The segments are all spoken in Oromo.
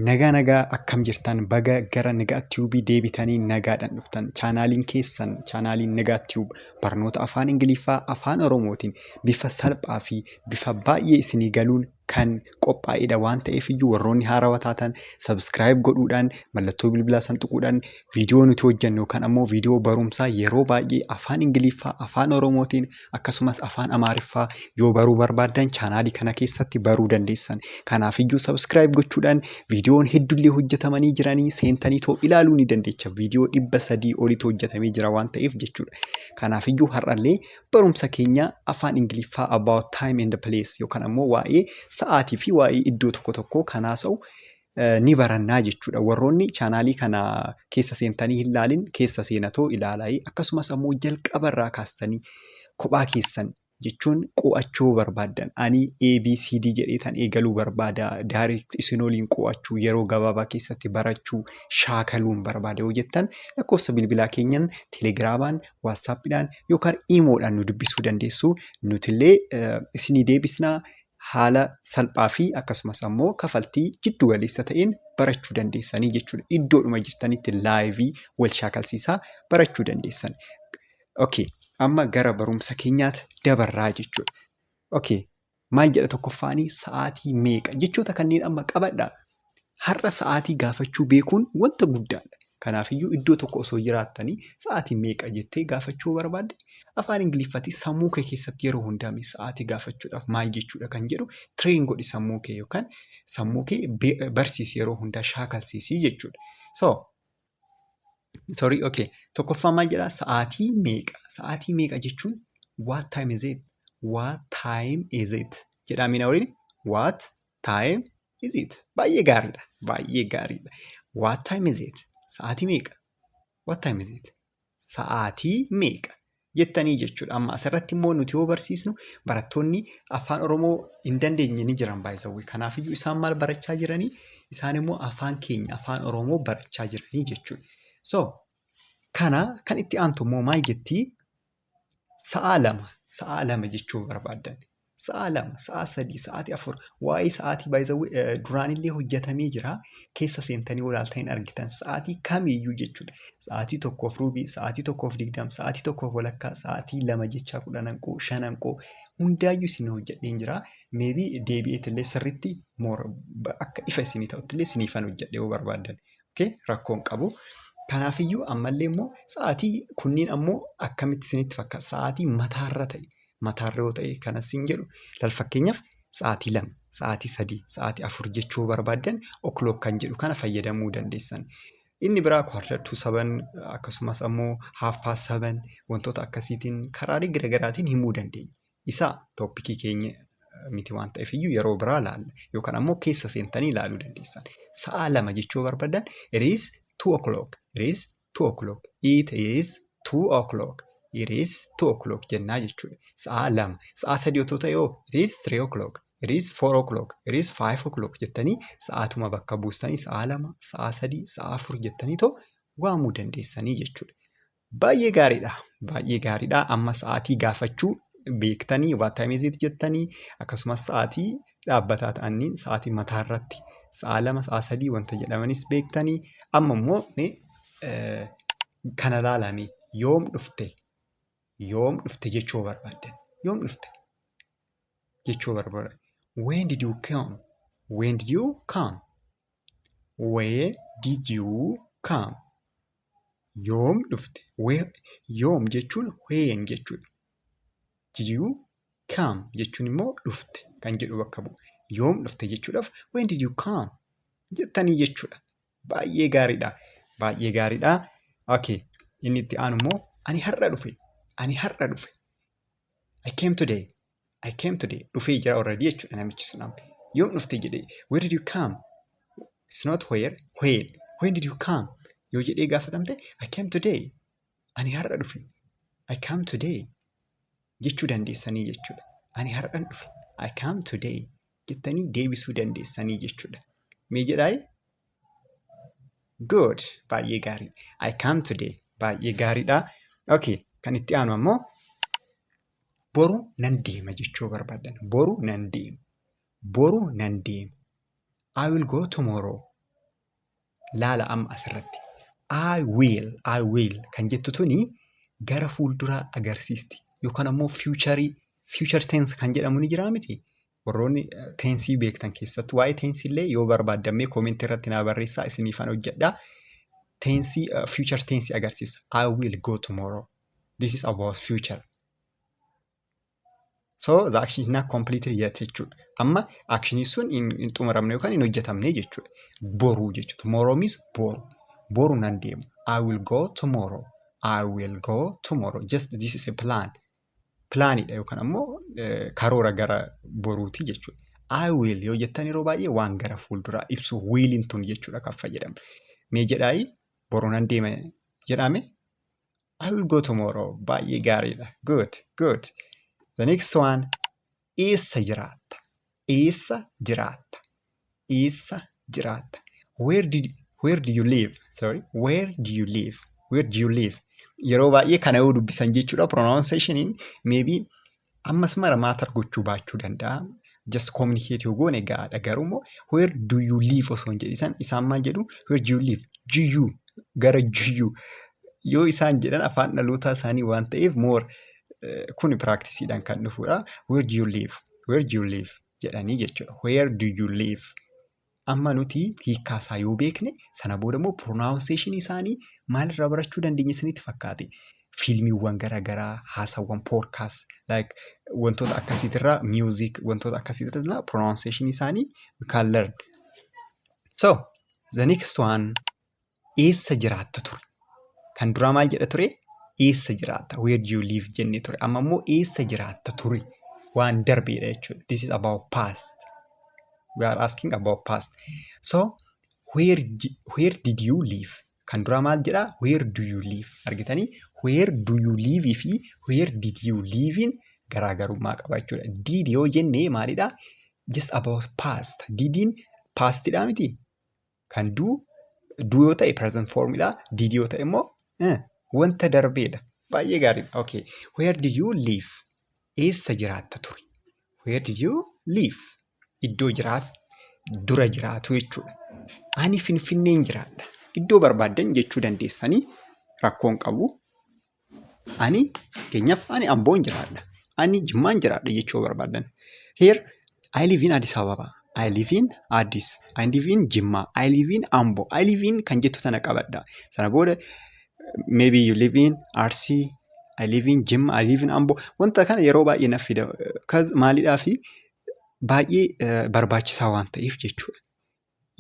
Nagaa nagaa akkam jirtan baga gara Nagaa Tiyuubii deebitanii nagaadhaan dhuftan chaanaaliin keessan chaanaaliin Nagaa Tiyuub barnoota afaan Ingiliffaa afaan Oromootiin bifa salphaa fi bifa baay'ee isinii galuun kan qophaa'edha waan ta'eef iyyuu warroonni haarawa taatan subscribe godhuudhaan mallattoo bilbilaa san tuquudhaan viidiyoo nuti hojjennu kan ammoo viidiyoo barumsaa yeroo baay'ee afaan ingiliffaa afaan oromootiin akkasumas afaan amaariffaa yoo baruu barbaaddan chaanaalii kana keessatti baruu dandeessan kanaaf iyyuu subscribe gochuudhaan viidiyoon heddullee hojjetamanii jiranii seentanii too ilaaluu ni dandeecha viidiyoo dhibba sadii olitu hojjetamee jira waan ta'eef jechuudha kanaaf iyyuu har'allee barumsa keenya afaan Ingiliffaa about time and place yookaan ammoo waa'ee sa'aatii fi waa'ee iddoo tokko tokkoo kan haasa'u eh, ni barannaa jechuudha. Warroonni chaanaalii kana keessa seentanii hin laalin keessa seenatoo ilaalaa akkasumas ammoo jalqaba irraa kaastanii kophaa keessan jechuun qo'achuu barbaaddan ani ABCD jedheetan eegaluu barbaada direct isin waliin qo'achuu yeroo gabaabaa keessatti barachuu shaakaluun barbaada yoo jettan lakkoofsa bilbilaa keenyan telegiraamaan waatsaappiidhaan yookaan iimoodhaan nu dubbisuu dandeessu. Nutillee eh, isinii deebisnaa haala salphaa fi akkasumas ammoo kafaltii jiddu galeessa ta'een barachuu dandeessanii jechuudha. Iddoodhuma jirtanitti laayivii wal shaakalsiisaa barachuu dandeessan. Okay, amma gara barumsa keenyaatti dabarraa jechuudha. Okay, Maal jedha tokkoffaanii sa'aatii meeqa? Jechoota kanneen amma qabadha. Har'a sa'aatii gaafachuu beekuun wanta guddaadha. Kanaafiyyuu iddoo tokko osoo jiraattanii sa'aatii meeqa jettee gaafachuu barbaadde afaan Ingiliffaatiin sammuu kee keessatti yeroo hundaa mee sa'aatii gaafachuudhaaf maal jechuudha kan jedhu tireen godhi sammuu kee yookaan sammuu kee be- barsiisi yeroo hundaa shaakalsiisii jechuudha. So Sorry, okay. Tokkoffaa maal jedhaa? Sa'aatii meeqa? Sa'aatii meeqa jechuun what time is it? What time is it? Jedhaa miina waliin what time is it? Baay'ee gaariidha. Baay'ee gaariidha. What time is it? Sa'aatii meeqa? What time is it? sa'aatii meeqa? jettanii jechuudha. Amma asirratti immoo nuti yoo barsiisnu barattoonni afaan Oromoo hin dandeenye ni jiran baay'isawwe. Kanaafiyyuu isaan maal barachaa jiranii? Isaan immoo afaan keenya afaan Oromoo barachaa jiranii jechuudha. So kana kan itti aantu immoo maal jettii? Sa'aa lama, sa'aa lama jechuu yoo barbaaddan. Sa'aa lama, sa'aa sadii, sa'aatii afur. Waa'ee sa'aatii by the way eh, duraanillee hojjetamee jira. Keessa seentanii yoo ilaaltan hin argitan. Sa'aatii kamiiyyuu jechuudha. Sa'aatii tokkoof ruubii, sa'aatii tokkoof digdam, sa'aatii tokkoof walakkaa, sa'aatii lama jechaa kudhan hanqoo, shan hanqoo. Hundaayyuu isin hojjedheen jira. Meebii deebi'eetillee sirriitti moora ba- akka ifa isinii ta'uttillee isiniifan hojjedhe yoo barbaaddan. Okay, rakkoon qabu. Kanaafiyyuu ammallee immoo sa'aatii kunniin ammoo akkamitti isinitti fakkaata? Sa'aatii mataarra ta'e. Mataarra yoo ta'e kanas siin jedhu laal fakkeenyaaf sa'aatii lama, sa'aatii sadii, sa'aatii afur jechuu yoo barbaaddan o'clock kan jedhu kana fayyadamuu dandeessan. Inni biraa quarter to seven akkasumas ammoo half past seven wantoota akkasiitiin karaalee garaagaraatiin himuu dandeenya. Isa toppikii keenya miti waan ta'eef iyyuu yeroo biraa laalla. Yookaan ammoo keessa seentanii laaluu dandeessan. Sa'aa lama jechuu barbaadan it is two o'clock, it is two o'clock, it is two o'clock, it is two o'clock jennaa jechuudha. Sa'aa lama. Sa'aa sadii otoo ta'e hoo it is three o'clock, it is four o'clock, it is five o'clock jettanii sa'aatuma bakka buustanii sa'aa lama, sa'aa sadii, sa'aa afur jettanii too waamuu dandeessanii jechuudha. Baay'ee gaariidha. Baay'ee gaariidha. Amma sa'aatii gaafachuu beektanii what time is it jettanii akkasumas sa'aatii dhaabbataa ta'anii sa'aatii mataa irratti sa'a lama sa'a sadii wanta jedhamanis beektanii amma immoo mee eh, kana laalame yoom dhufte yoom dhufte jechuu barbaaddan yoom dhufte jechuu barbaaddan when did you come when did you come Where did you come? Yoom dhufte? Where, yoom jechuun when jechuudha. Did you come jechuun immoo dhufte kan jedhu bakka bu'a. Yoom dhufte jechuudhaaf when did you come jettanii jechuudha. Baay'ee gaariidha. Baay'ee gaariidha. Okay. Inni itti aanu immoo ani har'a dhufe. Ani har'a dhufe. I came today. I came today. Dhufee jira already jechuudha namichi sun amma. Yoom dhufte jedhee where did you come? It's not where, when. When did you come? Yoo jedhee gaafatamte I came today. Ani har'a dhufe. I come today. Jechuu dandeessanii jechuudha. Ani har'an dhufe. I come today. Jettanii deebisuu dandeessanii jechuudha. Mee jedhaayi? Good. Baay'ee gaarii. I come today. Baay'ee gaariidha. Okay. Kan itti aanu ammoo Boru nan deema jechuu barbaadan. Boru nan deema. Boru nan deema. I will go tomorrow. Laala amma asirratti. I will, I will kan jettu tuni gara fuulduraa agarsiisti. Yookaan ammoo fiicharii, fiichar tense kan jedhamu ni jiraa miti. Warroonni teensii beektan keessattuu waa'ee teensii illee yoo barbaaddammee koomentii irratti naa barreessaa isiniifan hojjedha. Teensii future teensii agarsiisa. I will go tomorrow. This is about future. So the action is not completed yet jechuudha. Amma actionii sun hin hin xumuramne yookaan hin hojjetamne jechuudha. Boruu jechuudha. Tomorrow means boru. Boru nan deema. I will go tomorrow. I will go tomorrow. Just this is a plan. pilaaniidha yookaan ammoo karoora gara boruuti jechuudha. I will yoo jettan yeroo baay'ee waan gara fuulduraa ibsu wiiliin tun jechuudha kan fayyadamnu. Mee jedhaayi boru nan deema jedhame I will go tomorrow baay'ee gaariidha. Good good. The next one Eessa jiraatta? Eessa jiraatta? Eessa jiraatta? Where did where do you live? Sorry, where do you live? Where do you live? Yeroo baay'ee kana yoo dubbisan jechuudha pronunciationiin maybe ammas mara maatar gochuu baachuu danda'a. Just communicate yoo goone gaadha garuu immoo where do you live osoo hin jedhisan isaan maal jedhu where do you live? GU gara GU yoo isaan jedhan afaan dhalootaa isaanii waan ta'eef more kun piraaktisidhaan kan dhufudha. Where do you live? Where do you live? jedhanii jechuudha. Where do you live? Amma nuti hiikkaa isaa yoo beekne sana booda immoo pronunciation isaanii maalirraa barachuu dandeenya isinitti fakkaate? Fiilmiiwwan garaagaraa, haasawwan podcast, like wantoota akkasiitirraa music wantoota akkasiitirraa pronunciation isaanii we can learn. So the next one eessa jiraatta ture. Kan duraa maal jedha ture? Eessa jiraatta? Where do you live? jenne ture. Amma immoo eessa jiraatta ture? Waan darbeedha jechuudha. This is about past. We are asking about past. So, where, di- where did you live? Kan duraa maal jedha? Where do you live? Argitanii? Where do you live fi where did you live in garaagarummaa qaba jechuudha. Did yoo jenne maalidha? Just about past. Didin pastidha miti? Kan du du yoo ta'e present form dha. Did yoo ta'e immoo eh, wanta darbeedha. Baay'ee gaariidha. Okay. Where did you live? Eessa jiraatta ture? Where did you live? Iddoo jiraat dura jiraatu jechuudha. Ani Finfinneen jiraadha. Iddoo barbaaddan jechuu dandeessanii rakkoon qabu. Ani fakkeenyaaf ani Amboon jiraadha. Ani Jimmaan jiraadha jechuu yoo barbaaddan. Here I live in Addis Ababa. I live in Addis. I live in Jimmaa. I live in Ambo. I live in kan jettu sana qabadha. Sana booda maybe you live in Arsii. I live in Jimma. I live in Ambo. Wanta kana yeroo baay'ee naf fida. Kaz maalidhaa fi baay'ee eh, barbaachisaa waan ta'eef jechuudha.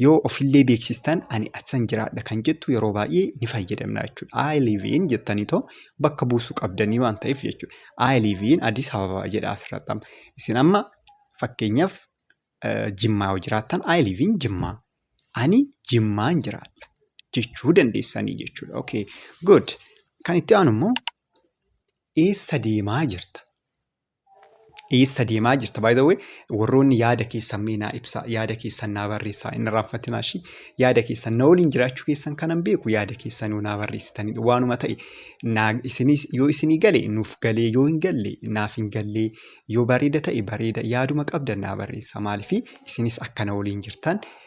Yoo ofillee beeksistan ani asan jiraadha kan jettu yeroo baay'ee ni fayyadamna jechuudha. I live in jettanii too bakka buusuu qabdanii waan ta'eef jechuudha. I live in Addis Ababa jedha asirratti amma. Isin amma fakkeenyaaf Jimmaa yoo jiraattan I live in Jimmaa. Ani Jimmaan jiraadha jechuu dandeessanii jechuudha. Okay, good. Kan itti aanu immoo eessa deemaa jirta? Eessa deemaa jirta? By the way, warroonni yaada keessan mee naa ibsaa, yaada keessan naa barreessaa, inni raanfatinaa ishii yaada keessan na waliin jiraachuu keessan kanan beeku yaada keessan yoo naa barreessitanidha. Waanuma ta'e naa isinis yoo isinii gale nuuf galee yoo hin galle naaf hin gallee yoo bareeda ta'e bareeda yaaduma qabdan naa barreessa maaliif isinis akka na waliin jirtan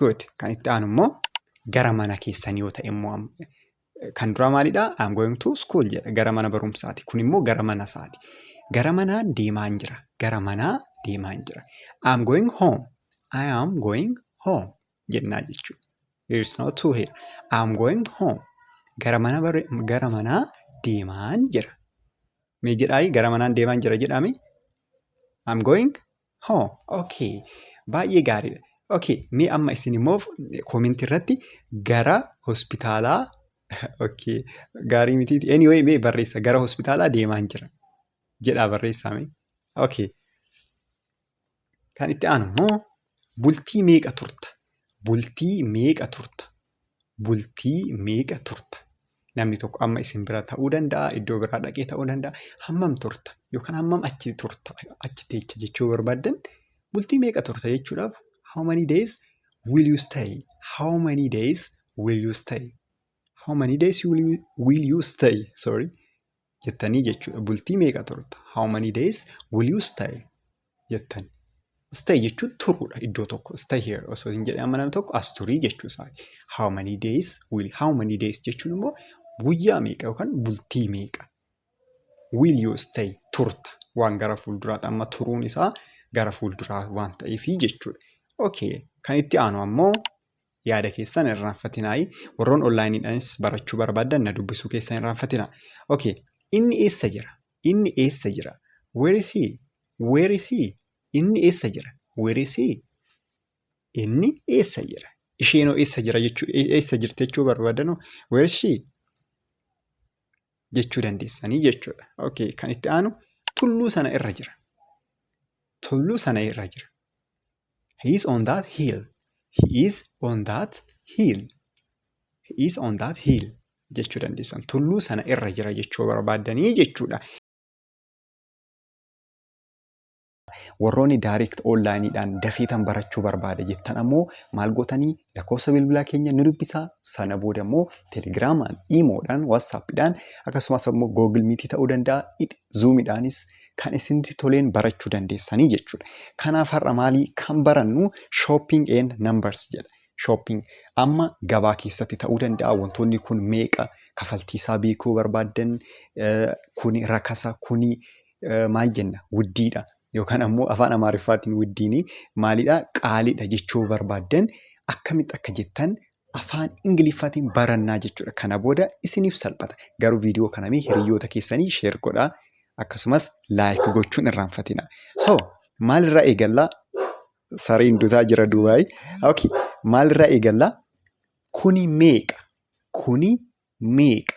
Good. Kan itti aanu immoo gara mana keessan yoo ta'e immoo kan duraa maalidha? I'm going to school jedha. Gara mana barumsaati. Kun immoo gara mana isaati. Gara manaan deemaan jira. Gara manaa deemaan jira. I'm going home. I am going home jennaa jechuudha. There is no two here. I'm going home. Gara mana bare- gara manaa deemaan jira. Mee jedhaayi gara manaan deemaan jira jedhaame. I'm going Hoo, okay. Baay'ee gaariidha. Okay, mee amma isin immoo koomentii irratti gara hospitaalaa okay, gaarii miti. Anyway, mee barreessa gara hospitaalaa deemaan jira. Jedhaa barreessaa mee. Okay. Kan itti aanu immoo bultii meeqa turta? Bultii meeqa turta? bultii meeqa turta? Namni tokko amma isin bira ta'uu danda'a, iddoo biraa dhaqee ta'uu danda'a. Hammam turta? Yookaan hammam achi turta? Achi teecha jechuu barbaaddan bultii meeqa turta jechuudhaaf how many days will you stay? How many days will you stay? How many days you will you, will you stay? Sorry. jettanii jechuudha. Bultii meeqa turta? How many days will you stay? jettan. Stay jechuun turuudha iddoo tokko. Stay here osoo hin jedhee amma namni tokko as turii jechuu isaati. How many days will how many days jechuun immoo guyyaa meeqa yookaan bultii meeqa will you stay turta waan gara fuulduraatti amma turuun isaa gara fuulduraa waan ta'eef jechuudha. Okay kan itti aanu ammoo yaada keessan irraanfatinaayii warroon onlaayiniidhaanis barachuu barbaadan na dubbisuu keessan irraanfatina okay inni eessa jira inni eessa jira where is he where is he inni eessa jira where is he inni eessa jira isheenoo eessa jira jechuu eessa jirti jechuu barbaadanoo where is she jechuu dandeessanii jechuudha. Okay, kan itti aanu tulluu sana irra jira. Tulluu sana irra jira. He is on that hill. He is on that hill. He is on that hill jechuu dandeessan. Tulluu sana irra jira jechuu barbaaddanii jechuudha. Warroonni direct online dhaan dafeetan barachuu barbaada jettan ammoo maal gootanii lakkoofsa bilbilaa keenya nu dubbisaa sana booda immoo telegiraamaan, iimoodhaan, waatsaappiidhaan akkasumas immoo googil miitii ta'uu danda'a zuumidhaanis kan isinitti toleen barachuu dandeessanii jechuudha. Kanaaf har'a maalii kan barannu shopping and numbers jedha. Shopping amma gabaa keessatti ta'uu danda'a wantoonni kun meeqa kafaltii isaa beekuu barbaaddan kuni rakasa kuni maal jenna wuddiidha yookaan ammoo afaan amaariffaatiin wuddiini maalidha qaaliidha jechuu barbaaddan akkamitti akka jettan afaan ingiliffaatiin barannaa jechuudha kana booda isiniif salphata garuu viidiyoo kana mee hiriyoota keessanii sheer godhaa akkasumas laayik gochuun irraanfatina so maalirraa eegallaa sareen dutaa jira duubaay okay maalirraa eegallaa kuni meeqa kuni meeqa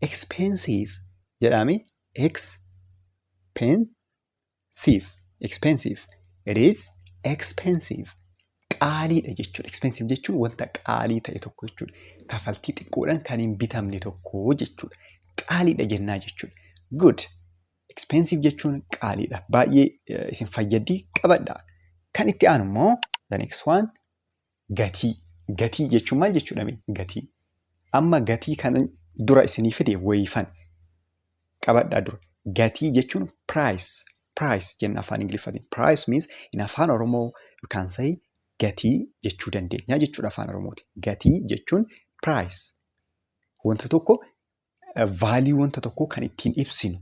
expensive jedhaame expensive expensive it is expensive qaaliidha jechuudha expensive jechuun wanta qaalii ta'e tokko jechuudha kafaltii xiqqoodhaan kan hin bitamne tokko jechuudha qaaliidha jennaa jechuudha good expensive jechuun qaaliidha baay'ee isin fayyaddi qabadha kan itti aanu immoo the next one Gatii. Gatii jechuun maal jechuudha mee? Gatii. Amma gatii kana dura isinii fide wayifan. Qabadhaa dura. Gatii jechuun price. Price jenna afaan Ingiliffaatiin. Price means in afaan Oromoo you can say gatii jechuu dandeenya jechuudha afaan Oromootiin. Gatii jechuun price. Wanta tokko Vaaliyuu wanta tokkoo kan ittiin ibsinu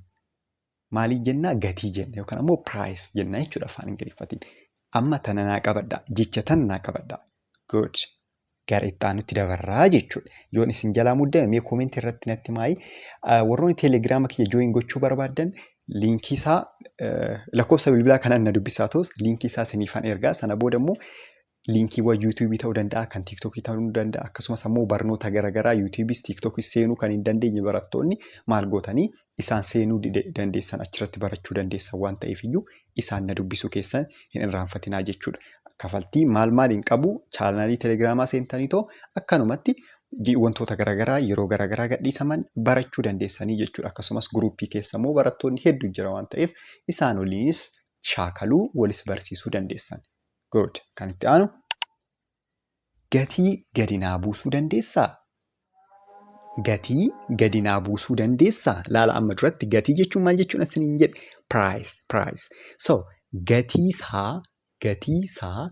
maalii jennaa gatii jenna yookaan ammoo piraayis jenna jechuudha afaan ingiliffatiin. Amma tana naa qabadha jecha tan naa qabadha. Good. Gara itti aanutti dabarraa jechuudha. Yoon isin jalaa muddame mee koomentii irratti natti maayi. Warroonni teelegiraama kiyya jooyin gochuu barbaaddan liinkii isaa lakkoofsa bilbilaa kanaan na dubbisaa ta'us liinkii isaa isiniifan ergaa sana booda immoo linkiiwwan yuutuubii ta'uu danda'a, kan tiiktookii ta'uu danda'a, akkasumas ammoo barnoota garaagaraa yuutuubiis tiiktookis seenuu kan hin dandeenye barattoonni maal gootanii isaan seenuu dandeessan achirratti barachuu dandeessan waan ta'eef iyyuu isaan na dubbisuu keessan hin irraanfatinaa jechuudha. Kafaltii maal maal hin qabu chaanaalii telegiraamaa seentanii too akkanumatti wantoota garaagaraa yeroo garaagaraa gadhiisaman barachuu dandeessanii jechuudha. Akkasumas guruuppii keessa immoo barattoonni heddu jira waan ta'eef isaan waliinis shaakaluu walis barsiisuu dandeessan. Good. Kan itti aanu gatii gadi naa buusuu dandeessaa? Gatii gadi naa buusuu dandeessaa? Laala amma duratti gatii jechuun maal jechuudha isiniin jedhe? Price, price. So, gatii isaa, gatii isaa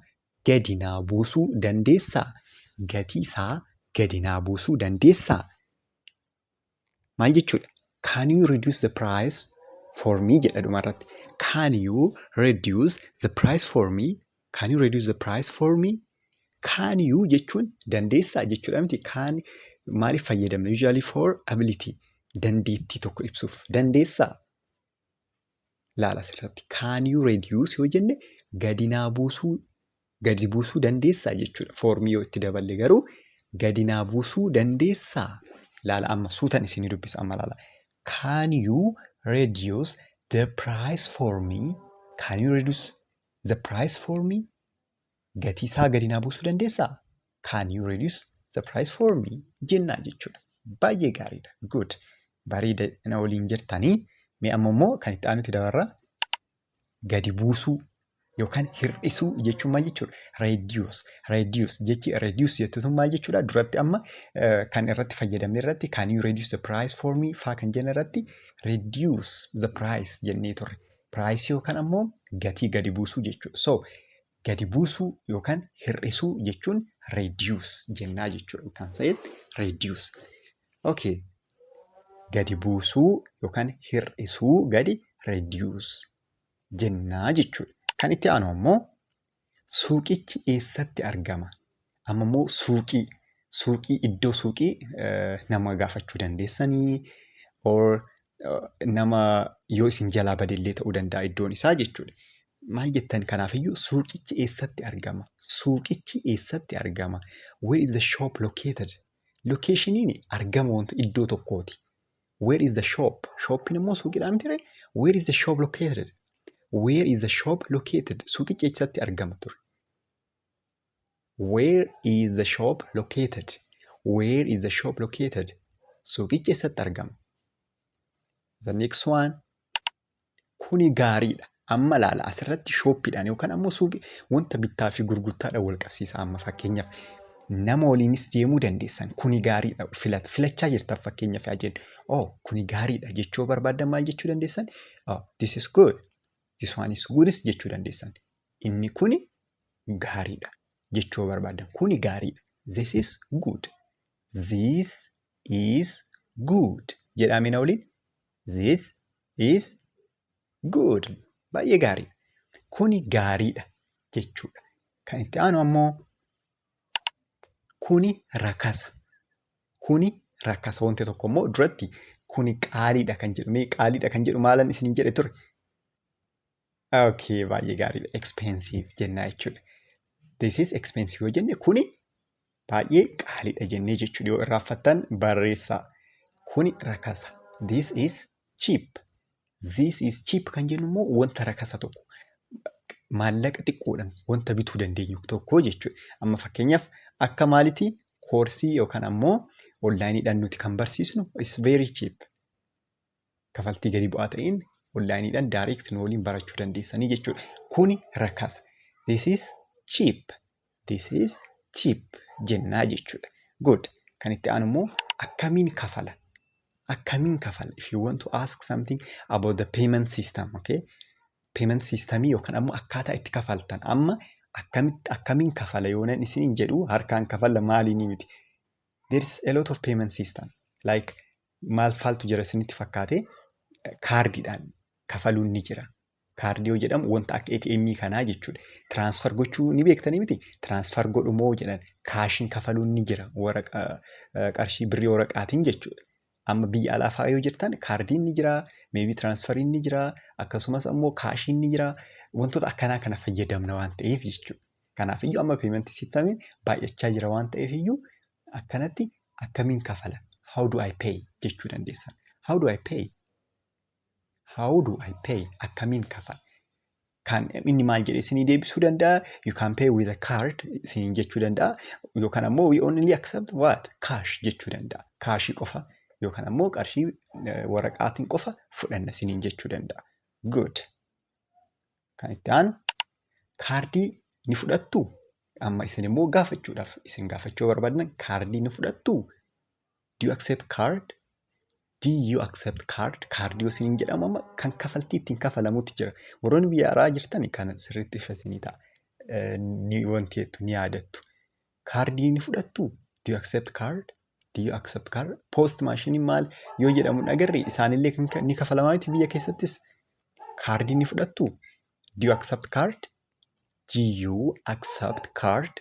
gadi naa buusuu dandeessaa? Gatii isaa gadi naa buusuu dandeessaa? Maal jechuudha? Can you reduce the price for me jedha dhuma irratti. Can you reduce the price for me? Can you reduce the price for me? Can you jechuun dandeessaa jechuudha miti. Can maaliif fayyadamna? Usually for ability. Dandeettii tokko ibsuuf. Dandeessaa? laala asirratti can you reduce yoo jenne gadi naa buusuu gadi buusuu dandeessaa jechuudha foormii yoo itti daballe garuu gadi naa buusuu dandeessaa laala amma suutan isinii dubbisa amma laala can you reduce the price for me can you reduce the price for me gatii isaa gadi naa buusuu dandeessaa? Can you reduce the price for me? jennaa jechuudha. Baay'ee gaariidha. Good. Bareeda na waliin jirtanii. Mee amma immoo kan itti aanutti dabarra gadi buusuu yookaan hir'isuu jechuun maal jechuudha? Reduce. Reduce. Jechi reduce jettu sun maal jechuudha? Duratti amma eh, kan irratti fayyadamne irratti can you reduce the price for me faa kan jenne irratti reduce the price jennee turre. Price yookaan ammoo gatii gadi buusuu jechuudha. So gadi buusuu yookaan hir'isuu jechuun reduce jennaa jechuudha. We can say it reduce. Okay. Gadi buusuu yookaan hir'isuu gadi reduce jennaa jechuudha. Kan itti aanu ammoo suuqichi eessatti argama? Amma immoo suuqii suuqii iddoo suuqii nama gaafachuu dandeessanii or nama yoo isin jalaa badellee ta'uu danda'a iddoon isaa jechuudha. Maal jettan kanaafiyyuu suuqichi eessatti argama? Suuqichi eessatti argama? Where is the shop located? Lokeeshiniin argama wanta iddoo tokkooti. Where is the shop? Shoppiin immoo suuqidhaa mitire? Where is the shop located? Where is the shop located? Suuqichi eessatti argama ture? Where is the shop located? Where is the shop located? Suuqichi eessatti argama? The next one. Kuni gaariidha. Amma laala asirratti shooppiidhaan yookaan ammoo suuqii wanta bittaa fi gurgurtaadhaan wal qabsiisa amma fakkeenyaaf nama waliinis deemuu dandeessan kuni gaariidha filat filachaa jirtan fakkeenyaaf yaa jennu oh kuni gaariidha jechuu barbaaddan maal jechuu dandeessan oh this is good This one is good jechuu dandeessan. Inni kuni gaariidha jechuu yoo barbaadan kuni gaariidha. This is good. This is good. Jedhaa mina waliin. This is good. Baay'ee gaariidha. Kuni gaariidha jechuudha. Kan itti aanu ammoo Kuni rakasa. Kuni rakasa. Wanti tokko immoo duratti kuni qaaliidha kan jedhu. Mee qaaliidha kan jedhu maalan isin jedhe ture? Okay, baay'ee gaariidha. Expensive jennaa jechuudha. This is expensive yoo jenne kuni baay'ee qaaliidha jennee jechuudha. Yoo irraanfattan barreessaa. Kuni rakasa. This is cheap. This is cheap kan jennu immoo wanta rakasa tokko maallaqa xiqqoodhaan wanta bituu dandeenyu tokko jechuudha. Amma fakkeenyaaf akka maalitii koorsii yookaan ammoo onlaayiniidhaan nuti kan barsiisnu is very cheap. Kafaltii gadi bu'aa ta'een onlaayiniidhaan direct nu waliin barachuu dandeessanii jechuudha. Kuni rakasa. This is cheap. this is cheap jennaa jechuudha. Good. Kan itti aanu immoo akkamiin kafala? Akkamiin kafala? If you want to ask something about the payment system, okay? Payment system yookaan ammoo akkaataa itti kafaltan amma akkamitti akkamiin kafala yoonan isiniin jedhu harkaan kafala maaliin miti. There is a lot of payment system like maal faaltu jira isinitti fakkaate kaardiidhaan kafaluun ni jira. Kaardii yoo jedhamu wanta akka ATM kanaa jechuudha. Transfer gochuu ni beektanii miti? Transfer godhumoo jedhan kaashiin kafaluun ni jira waraqa eh, qarshii birrii waraqaatiin jechuudha. Amma biyya alaa fa'aa yoo jirtan kaardiin ni jira, meebii transferiin ni jira, akkasumas ammoo kaashiin ni jira. Wantoota akkanaa kana fayyadamna waan ta'eef jechuudha. Kanaaf iyyuu amma payment systemiin baay'achaa jira waan ta'eef iyyuu akkanatti akkamiin kafala? How do I pay? jechuu dandeessan. How do I pay? How do I pay? Akkamiin kafala? Kan inni maal jedhee isinii deebisuu danda'a? You can pay with a card isiniin jechuu danda'a. Yookaan ammoo we only accept what? Cash jechuu danda'a. Kaashii qofa yookaan ammoo qarshii eh, waraqaatiin qofa fudhanna isiniin jechuu danda'a. Good. Kan itti aanu kaardii ni fudhattu? Amma isin immoo gaafachuudhaaf isin gaafachuu barbaaddan kaardii ni fudhattu? Do you accept card? Do you accept card? Kaardii yoo isiniin jedhamu amma kan kafaltii ittiin kafalamutti jira. Warroonni biyya alaa jirtan kana sirriitti ifa isinii ta'a. Eh, Ni wanti jettu ni yaadattu. Kaardii ni fudhattu? Do you accept card? Do you accept card? Post maashiniin maal yoo jedhamu hin agarre isaanillee kan ka- ni kafalamaa miti biyya keessattis. Kaardii ni fudhattu? Do you accept card? Do you accept card?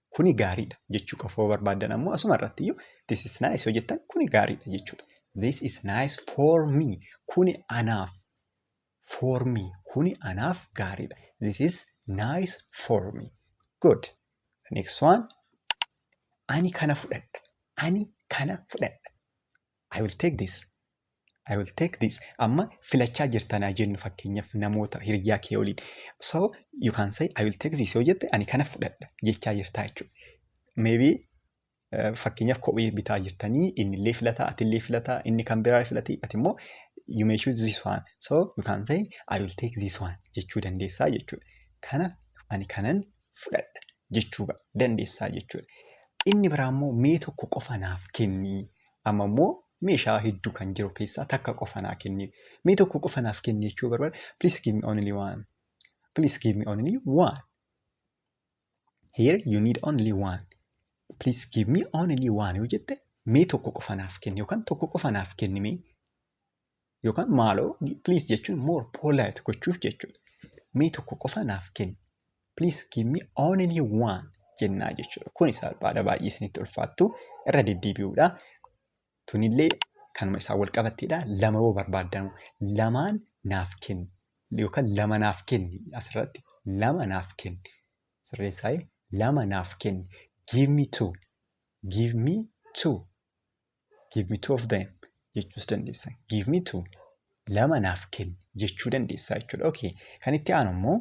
kuni gaariidha jechuu qofa yoo barbaaddan ammoo asuma irratti iyyuu this is nice yoo jettan kuni gaariidha jechuudha. This is nice for me kuni anaaf for me kuni anaaf gaariidha. This is nice for me. Good. The next one ani kana fudhadha ani kana fudhadha. I will take this. I will take this. Amma filachaa jirtan haa jennu fakkeenyaaf namoota hiriyyaa kee waliin. So you can say I will take this yoo jette ani kana fudhadha jechaa jirtaa jechuudha. Maybe eh, fakkeenyaaf kophee bitaa jirtanii inni illee filataa ati illee filataa inni kan biraa filatee ati immoo you may choose this one. So you can say I will take this one jechuu dandeessaa jechuudha. Kana ani kanan fudhadha jechuu ba- dandeessaa jechuudha. Inni biraa immoo mee tokko qofa naaf kenni. Amma immoo meeshaa hedduu kan jiru keessaa takka qofa naa kenni. Mee tokko qofa naaf kenni jechuu barbaada. Please give me only one. Please give me only one. Here you need only one. Please give me only one yoo jette mee tokko qofa naaf kenni yookaan tokko qofa naaf kenni mee yookaan maaloo please jechuun more polite gochuuf jechuudha. Mee tokko qofa naaf kenni. Please give me only one jennaa jechuudha. Kun isaa baada baay'ee isinitti ulfaattu irra deddeebi'uudha. Tunillee kanuma isaa wal qabatteedha. Lama yoo barbaaddan lamaan naaf kenni yookaan lama naaf kenni asirratti lama naaf kenni. Sirreessaa'ee lama naaf kenni. Give me two. Give me two. Give me two of them jechuus dandeessa. Give me two lama naaf kenni jechuu dandeessa jechuudha. Okay. Kan itti aanu immoo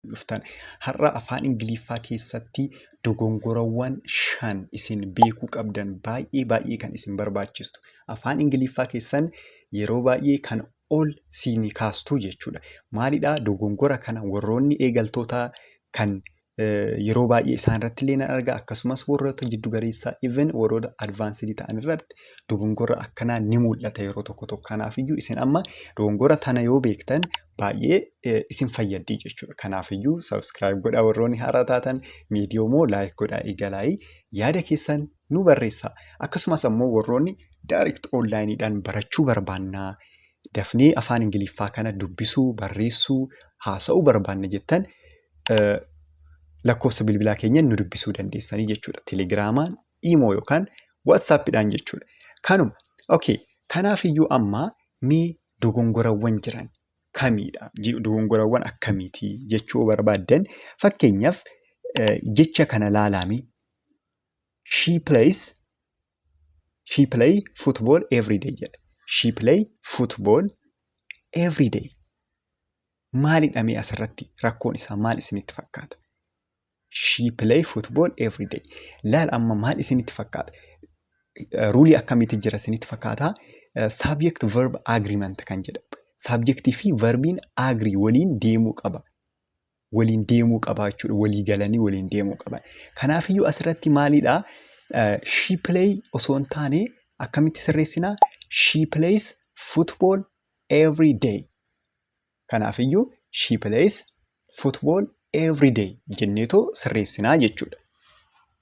dhuftan har'a afaan Ingiliffaa keessatti dogongorawwan shan isin beekuu qabdan baay'ee baay'ee kan isin barbaachistu. Afaan Ingiliffaa keessan yeroo baay'ee kan ol siinii kaastuu jechuudha. Maalidhaa dogongora kana warroonni eegaltootaa kan yeroo baay'ee isaan irratti illee nan arga akkasumas warroota jiddu galeessaa even warroota advaansidii ta'an irratti dogongora akkanaa ni mul'ata yeroo tokko tokko kanaafiyyuu isin amma dogongora tana yoo beektan baay'ee eh, isin fayyaddii jechuudha kanaafiyyuu subscribe godha warroonni haaraa taatan viidiyoo moo like godha eegalaayii yaada keessan nu barreessaa. Akkasumas ammoo warroonni direct online dhaan barachuu barbaanna, dafnee afaan Ingiliffaa kana dubbisuu, barreessuu, haasa'uu barbaanna jettan eh, lakkoofsa bilbilaa keenyan nu dubbisuu dandeessanii jechuudha. Telegiraamaan, Imoo yookaan WhatsApp dhaan jechuudha. Kanuma. Okay. Kanaaf iyyuu amma mee dogongorawwan jiran kamiidha? Je- Dogongorawwan akkamiiti jechuu yoo barbaaddan fakkeenyaaf eh, jecha kana laalaamee She plays she play football every day jedha. She play football every day. Maalidha mee asirratti rakkoon isaa maal isinitti fakkaata? She play football every day. Laal amma maal isinitti fakkaata? Ruulii akkamitti jira isinitti fakkaata? Subject verb agreement kan jedhamu. Subjectii fi verbiin agree waliin deemuu qaba. waliin deemuu qaba jechuudha. Walii galanii waliin deemuu qaban. Kanaafiyyuu asirratti maalidha? She play osoo hin taane akkamitti sirreessina? She plays football every day. Kanaafiyyuu she plays football every day jenneetoo sirreessinaa jechuudha.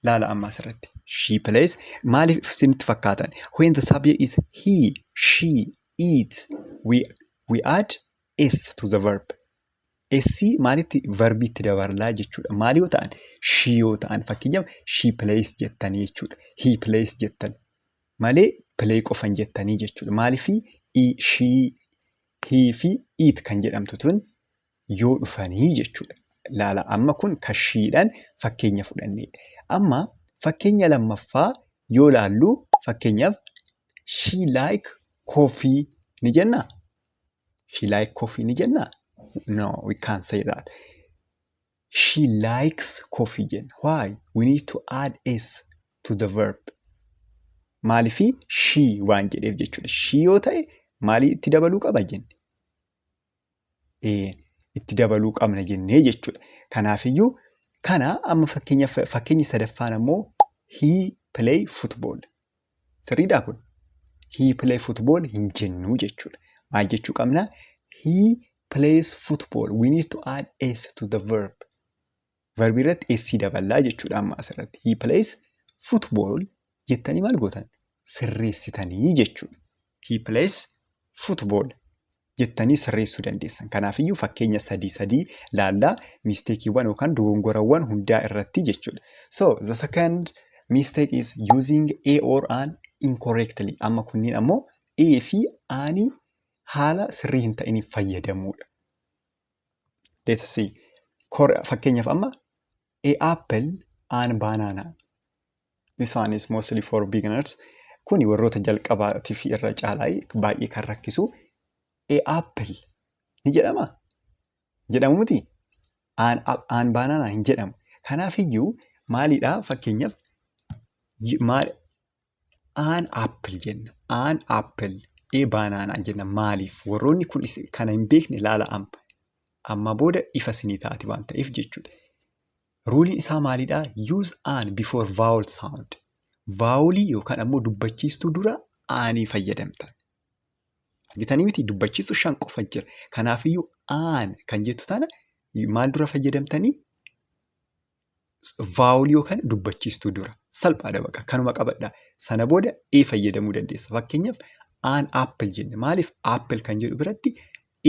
Laala amma asirratti. She plays maaliif isinitti fakkaatan? When the subject is he, she, it, we, we add s to the verb. Essi maalitti varbiitti dabarlaa jechuudha. Maal yoo ta'an shii yoo ta'an fakkeenyaaf shii pilees jettanii jechuudha. Hii pilees jettan malee pilee qofan jettanii jechuudha. Maaliif shii hii fi iit kan jedhamtu tun yoo dhufanii jechuudha. Laala amma kun kan shiidhaan fakkeenya fudhanneedha. Amma fakkeenya lammaffaa yoo laallu fakkeenyaaf shii laayik koofii ni jennaa? She like coffee ni jenna? No, we can't say that. She likes coffee jenna. Why? We need to add s to the verb. Maalifi she waan jedheef jechuudha. She yoo ta'e maalii itti dabaluu qaba jenne? Ee, itti dabaluu qabna jennee jechuudha. Kanaafiyyuu kana amma fakkeenya fakkeenya sadaffaan ammoo he play football. Sirriidhaa kun? He play football hin jennuu jechuudha. Maal jechuu qabna? He plays football. We need to add s to the verb. Verbi irratti s daballaa jechuudha amma asirratti. He plays football jettanii maal gootan? Sirreessitanii jechuudha. He plays football jettanii sirreessuu dandeessan. Kanaafiyyuu fakkeenya sadii sadii laallaa misteekiiwwan yookaan dogongorawwan hundaa irratti jechuudha. So the second mistake is using a or an incorrectly. Amma kunniin ammoo a fi ani haala sirrii hin ta'iniif fayyadamuudha. Let's see. Kor- Fakkeenyaaf amma A apple and banana. This one is mostly for beginners. Kuni warroota jalqabaatiif irra caalaa baay'ee kan rakkisu. A apple ni jedhama? Jedhamu miti? An, an banana hin jedhamu. Kanaaf iyyuu maalidha fakkeenyaaf y- maal An apple jenna. An apple. E banana jenna. Maaliif? Warroonni kun is- kana hin beekne ilaala amma. Amma booda ifa sinii taati waan ta'eef jechuudha. Ruuliin isaa maalidha? Use an before vowel sound. Vaawolii yookaan ammoo dubbachiistuu dura aanii fayyadamta. Argitanii miti dubbachiistuu shan qofa jira. Kanaafiyyuu aan kan jettu tana maal dura fayyadamtanii? vaawulii yookaan dubbachiistuu dura. Salphaadha baqa kanuma qabadha. Sana booda ee fayyadamuu dandeessa. Fakkeenyaaf aan appil jenne maaliif appil kan jedhu biratti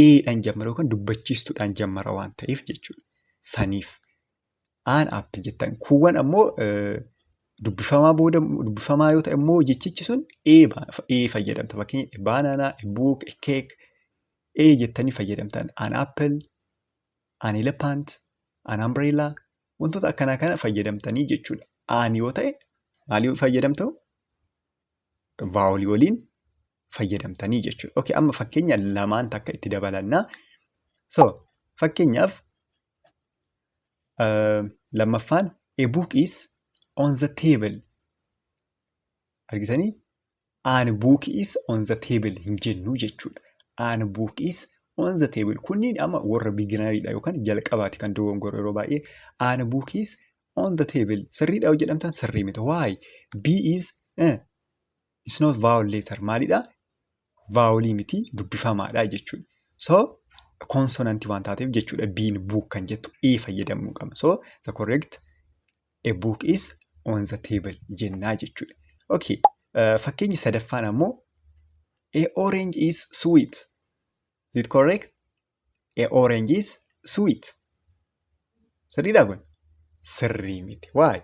eedhaan jammara yookaan dubbachiistuudhaan jammara waan ta'eef jechuudha. Saniif aan appil jettan kuuwwan ammoo dubbifamaa booda dubbifamaa yoo ta'e immoo jechichi sun ee fayyadamta. Fakkeenyaaf baanaanaa, buuk, keek ee jettanii fayyadamtan aan appil an elephant, an umbrella wantoota akkanaa kana fayyadamtanii jechuudha. Aan yoo ta'e maalii fayyadamtu? Vaawolii waliin fayyadamtanii jechuudha. Okay, amma fakkeenya lamaan takka itti dabalannaa. So, fakkeenyaaf uh, lammaffaan a book is on the table argitanii An book is on the table hin jennu jechuudha. An book is on the table. Kunniin amma warra beginneridha yookaan jalqabaati kan dogongoru yeroo baay'ee. An book is on the table. Sirriidha yoo jedhamtan sirrii miti. Why? B is eh, it's not vowel letter. Maalidha? Vaawolii miti dubbifamaadha jechuudha. So konsonantii waan taateef jechuudha biin buuk kan jettu ee fayyadamuu qabna. So the correct A book is on the table jennaa jechuudha. Okay. Uh, fakkeenyi sadaffaan ammoo A orange is sweet. Is it correct? A orange is sweet. Sirriidhaa kun? Sirrii miti. Why?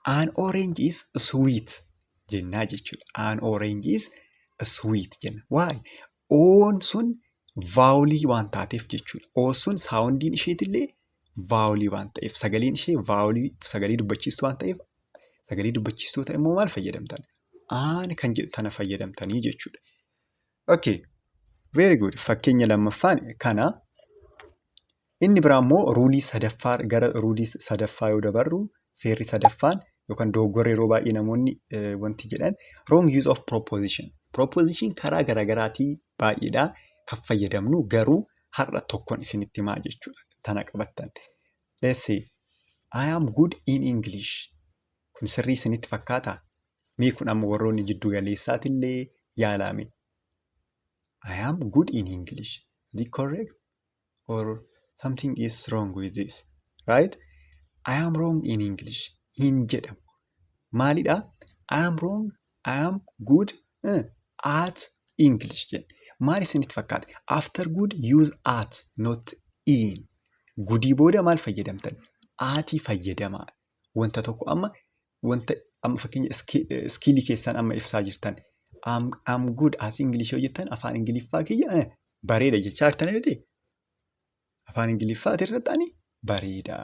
An orange is sweet jennaa jechuudha. An orange is sweet jenna. Why? Oon sun vaawulii waan taateef jechuudha. Oon sun saawundiin isheetillee vaawulii waan ta'eef sagaleen ishee vaawulii sagalee dubbachiistuu waan ta'eef sagalee dubbachiistuu ta'e immoo maal fayyadamtan? Aan kan jedhu tana fayyadamtanii jechuudha. Okay. Very good. Fakkeenya lammaffaan kana Inni biraa immoo ruulii sadaffaa gara ruulii sadaffaa yoo dabarru seerri sadaffaan yookaan dogoggorri yeroo baay'ee namoonni wanti jedhan wrong use of proposition. Proposition karaa garaagaraatii baay'eedhaa kan fayyadamnu garuu har'a tokkon isinitti himaa jechuudha. Tana qabattan. Let's say I am good in English. Kun sirrii isinitti fakkaataa? Mee kun amma warroonni jiddu galeessaatillee yaalaame. I am good in English. Is it correct? or something is wrong with this right I am wrong in English hin jedhamu maalidha I am wrong I am good uh, at English jedhe maal isinitti fakkaate after good use at not in gudii booda maal fayyadamtan aatii fayyadamaa wanta tokko amma wanta amma fakkeenya iskiilii keessaan amma ibsaa jirtan. I'm, I'm good as English yoo jettan afaan Ingiliffaa kiyya eh, bareeda jechaa jirtan miti. Afaan Ingiliffaa irratti ani bareeda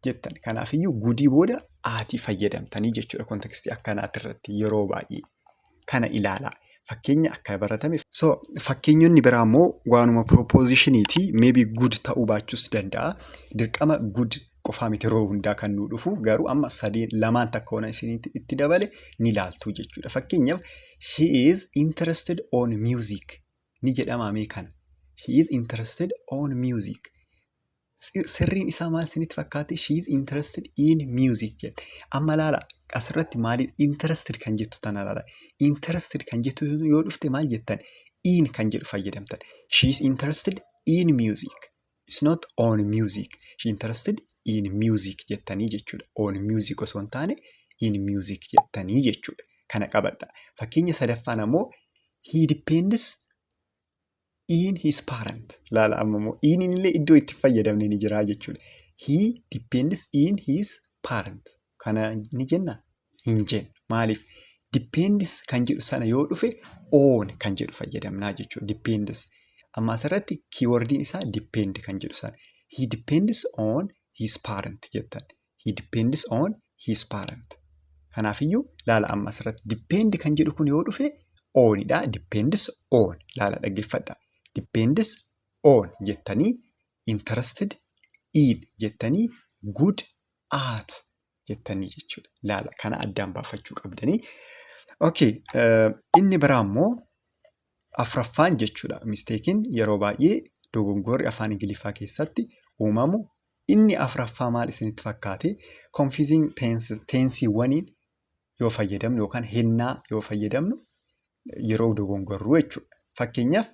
jettan. Kanaafiyyuu gudii booda aatii fayyadamtanii jechuudha kontekstii akkanaati irratti yeroo baay'ee. kana ilaala. Fakkeenya akka baratame. So fakkeenyonni biraa immoo waanuma piroopoozishiniiti. Meebi good ta'uu baachuus danda'a. Dirqama good qofaa miti yeroo hundaa kan nuu dhufu garuu amma sadeen lamaan takka waan isinitti itti dabale ni laaltu jechuudha. Fakkeenyaaf she is interested on music ni jedhama mee kana. She is interested on music. sirriin isaa maal isinitti fakkaate she is interested in music jedhe amma laala asirratti maaliin interested kan jettu tana laala interested kan jettu yoo dhufte maal jettan in kan jedhu fayyadamtan she is interested in music it's not on music she interested in music jettanii jechuudha on music osoo hin taane in music jettanii jechuudha kana qabadha fakkeenya sadaffaan ammoo he depends in his parent laala amma immoo in illee iddoo itti fayyadamne ni jira jechuudha. He depends in his parent kana ni jenna hin jennu maaliif depends kan jedhu sana yoo dhufe on kan jedhu fayyadamnaa jechuudha depends amma asirratti kiiwordiin isaa depend kan jedhu sana he depends on his parent jettan He depends on his parent. Kanaafiyyuu laala amma asirratti depend kan jedhu kun yoo dhufe oonidha. Depends on laala dhaggeeffadha. Depends on jettanii interested in jettanii good at jettanii jechuudha. Laala kana addaan baafachuu qabdanii. Okay, uh, inni biraa immoo afraffaan jechuudha. Misteekiin yeroo baay'ee dogongorri afaan Ingiliffaa keessatti uumamu Inni afraffaa maal isinitti fakkaate? Confusing tense teensiiwwaniin yoo fayyadamnu yookaan hennaa yoo fayyadamnu yeroo dogongorru jechuudha. Fakkeenyaaf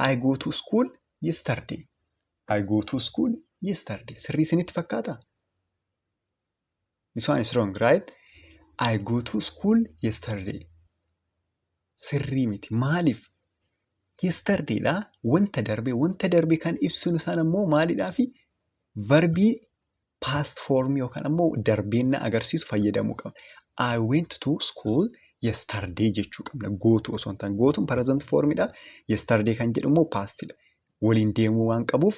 I go to school yesterday. I go to school yesterday. Sirrii isinitti fakkaataa? This one is wrong, right? I go to school yesterday. Sirrii miti. Maaliif? Yesterday dha. Wanta darbe. Wanta darbe kan ibsinu isaan ammoo maalidhaa fi verbii past form yookaan ammoo darbeenna agarsiisu fayyadamuu qabna. I went to school yesterday jechuu qabna. Gootu osoo hin taane. Gootuun present form dha. Yesterday kan jedhu immoo past dha. Waliin deemuu waan qabuuf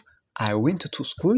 I went to school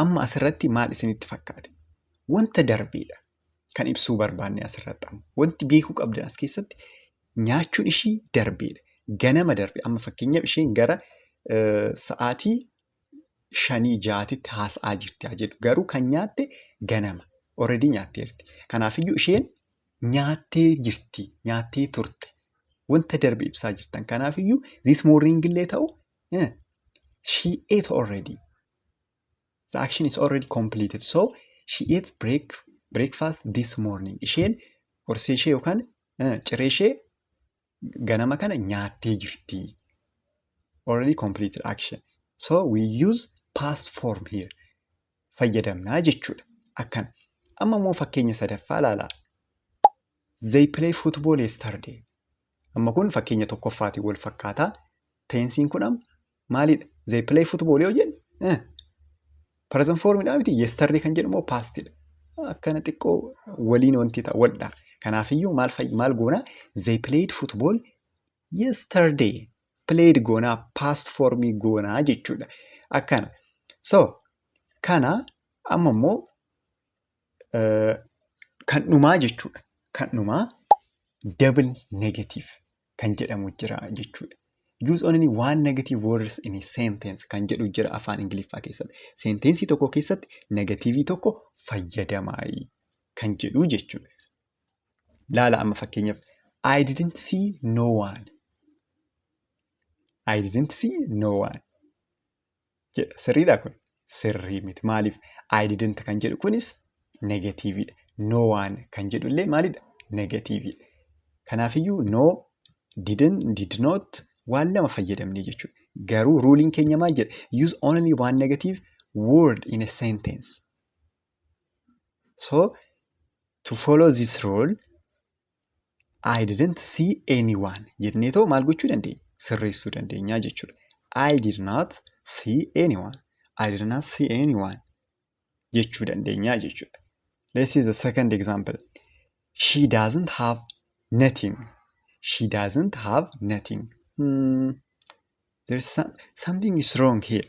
Amma asirratti maal isinitti fakkaate? Wanta darbeedha kan ibsuu barbaanne asirratti amma. Wanti beekuu qabdan as keessatti nyaachuun ishii darbeedha. Ganama darbe amma fakkeenyaaf isheen gara eh, sa'aatii shanii jaatitti haasa'aa jirti haa jedhu. Garuu kan nyaatte ganama. Already nyaatteerti. Kanaafiyyuu isheen nyaattee jirti, nyaattee turte. Wanta darbe ibsaa jirtan. Kanaafiyyuu this morning illee ta'u Eh, she ate already. The action is already completed. So she ate break, breakfast this morning. Isheen qorsee ishee yookaan eh, ciree ishee ganama kana nyaattee jirti. Already completed action. So we use past form here. Fayyadamnaa jechuudha. Akkana. Amma immoo fakkeenya sadaffaa ilaalaa. They play football yesterday. Amma kun fakkeenya tokkoffaatiin wal fakkaata. Teensiin kun amma maalidha? They play football yoo jennu eh, present formidha miti yesterday kan jedhu immoo pastidha. Akkana xiqqoo waliin wanti ta'a waldha. Kanaafiyyuu maal fayyi maal goona? They played football yesterday. Played goonaa past formii goonaa jechuudha. Akkana. So kana amma immoo Kan dhumaa jechuudha. Kan dhumaa double negative kan jedhamu jira jechuudha. Use only one negative words in a sentence kan jedhu jira afaan Ingiliffaa keessatti. Senteensii tokko keessatti negatiivii tokko fayyadamaayi kan jedhu jechuudha. Laala amma fakkeenyaaf I didn't see no one. I didn't see no one. jedha. Sirriidha kun? Sirrii miti. Maaliif? I didn't kan jedhu kunis negatiiviidha. No one kan jedhu illee maalidha? Negatiiviidha. Kanaafiyyuu no, didn't, did not waan lama fayyadamne jechuudha. Garuu ruuliin keenya maal jedha? Use only one negative word in a sentence. So, to follow this rule, I didn't see anyone jennee too maal gochuu dandeenya? Sirreessuu dandeenya jechuudha. I did not see anyone. I did not see anyone jechuu dandeenya jechuudha. Let's see the second example. She doesn't have nothing. She doesn't have nothing. Hmm. There's some, something is wrong here.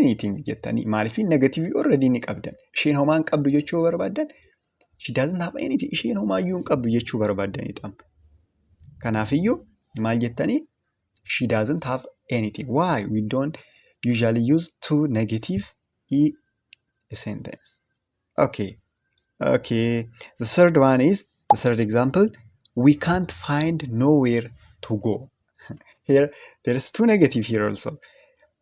anything jettanii maaliif negatiivii already ni qabdan isheen homaa hin qabdu jechuu barbaaddan she doesn't have anything isheen homaa iyyuu hin qabdu jechuu barbaaddan ixam kanaafiyyuu maal jettanii she doesn't have anything why we don't usually use two negative e sentence okay okay the third one is the third example we can't find nowhere to go here there is two negative here also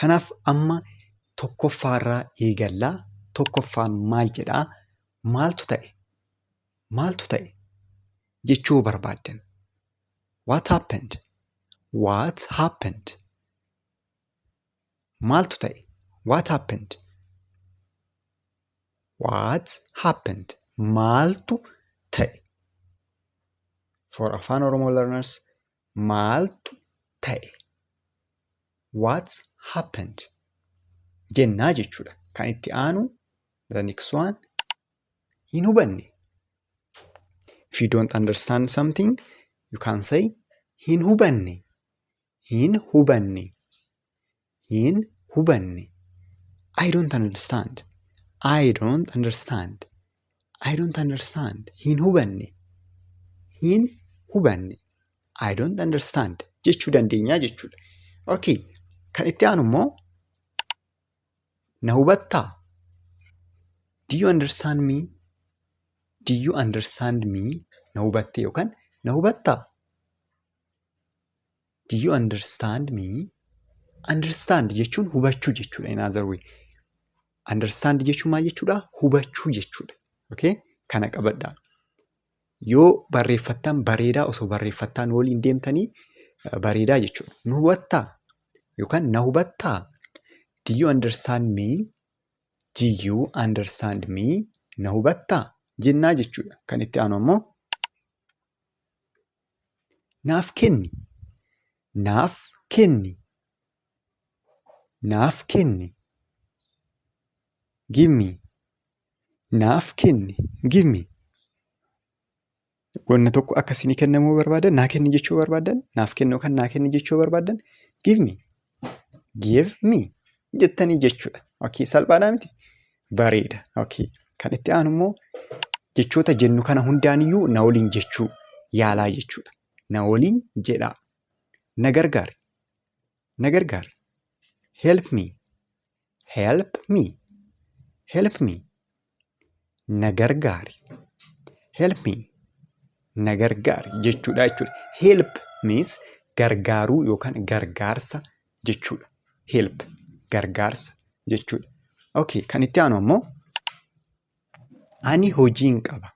Kanaaf amma tokkoffaarraa eegalla. Tokkoffaan maal jedhaa? Maaltu ta'e? Maaltu ta'e? jechuu barbaaddan. What happened? What happened? Maaltu ta'e? What happened? What happened? Maaltu ta'e? For Afaan Oromoo learners, Maaltu ta'e? What's happened? jennaa jechuudha. Kan itti aanu the next one hin hubanne. If you don't understand something you can say hin hubanne. Hin hubanne. hin hubanne I don't understand I don't understand I don't understand hin hubanne hin hubanne I don't understand jechuu dandeenya jechuudha. Okay. Kan itti aanu immoo na hubattaa? Do you understand me? Do you understand me? Na hubattee yookaan na hubattaa? Do you understand me? Understand jechuun hubachuu jechuudha in other way. Understand jechuun maal jechuudha? Hubachuu jechuudha. Okay? Kana qabadhaa. Yoo barreeffattan bareedaa osoo barreeffattaan waliin deemtanii eh, bareedaa jechuudha. Nu hubattaa? Yookaan na hubattaa? Do you understand me? Do you understand me? Na hubattaa? Jennaa jechuudha. Kan itti aanu ammoo Naaf kenni Naaf kenni Naaf kenni Give me Naaf kenni Give me Wanna tokko akka isinii kennamuu barbaadan naa kenni jechuu barbaadan naaf kenni yookaan naa kenni jechuu barbaadan Give me give me jettanii jechuudha. Okay, salphaadhaa miti? Bareeda. Okay. Kan itti aanu immoo jechoota jennu kana hundaaniyyuu na waliin jechuu yaalaa jechuudha. Na waliin jedhaa. Na gargaari. Na gargaari. Help me. Help me. Help me. Na gargaari. Help me. Na gargaari jechuudha jechuudha. Help means gargaaruu yookaan gargaarsa jechuudha. Help gargaarsa jechuudha. Okay, kan itti aanu ammoo ani hojiin qaba.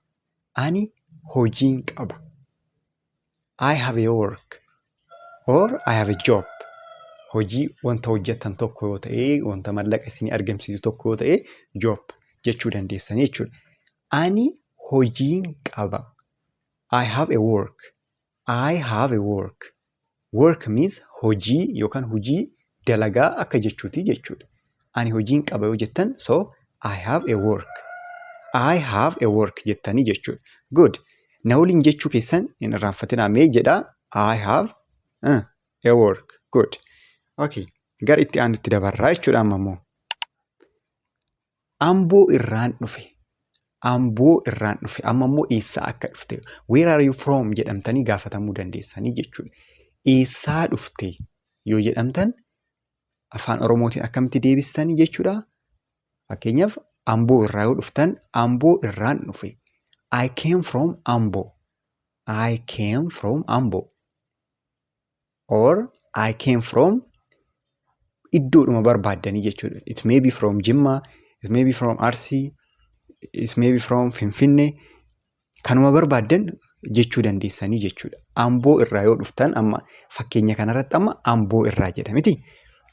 Ani hojiin qaba. I have a work or I have a job. Hojii wanta hojjettan tokko yoo ta'e, wanta mallaqa isinii argamsiisu tokko yoo ta'e, job jechuu dandeessanii jechuudha. Ani hojiin qaba. I have a work. I have a work. Work means hojii yookaan hojii dalagaa akka jechuuti jechuudha. Ani hojiin qaba yoo jettan so I have a work. I have a work jettanii jechuudha. Good. Na waliin jechuu keessan hin irraanfatinaa mee jedhaa I have uh, a work. Good. Okay. Gara itti aanutti dabarraa jechuudha amma immoo. Amboo irraan dhufe. Amboo irraan dhufe. Amma immoo eessaa akka dhufte. Where are you from jedhamtanii gaafatamuu dandeessanii jechuudha. Eessaa dhufte yoo jedhamtan afaan Oromootiin akkamitti deebistanii jechuudha. Fakkeenyaaf Amboo irraa yoo dhuftan Amboo irraan dhufe. I came from Ambo. I came from Ambo. or I came from iddoodhuma barbaaddanii jechuudha. It may be from Jimma, it may be from Arsii, it may be from Finfinnee kanuma barbaaddan jechuu dandeessanii jechuudha. Amboo irraa yoo dhuftan amma fakkeenya kanarratti amma amboo irraa jedha miti.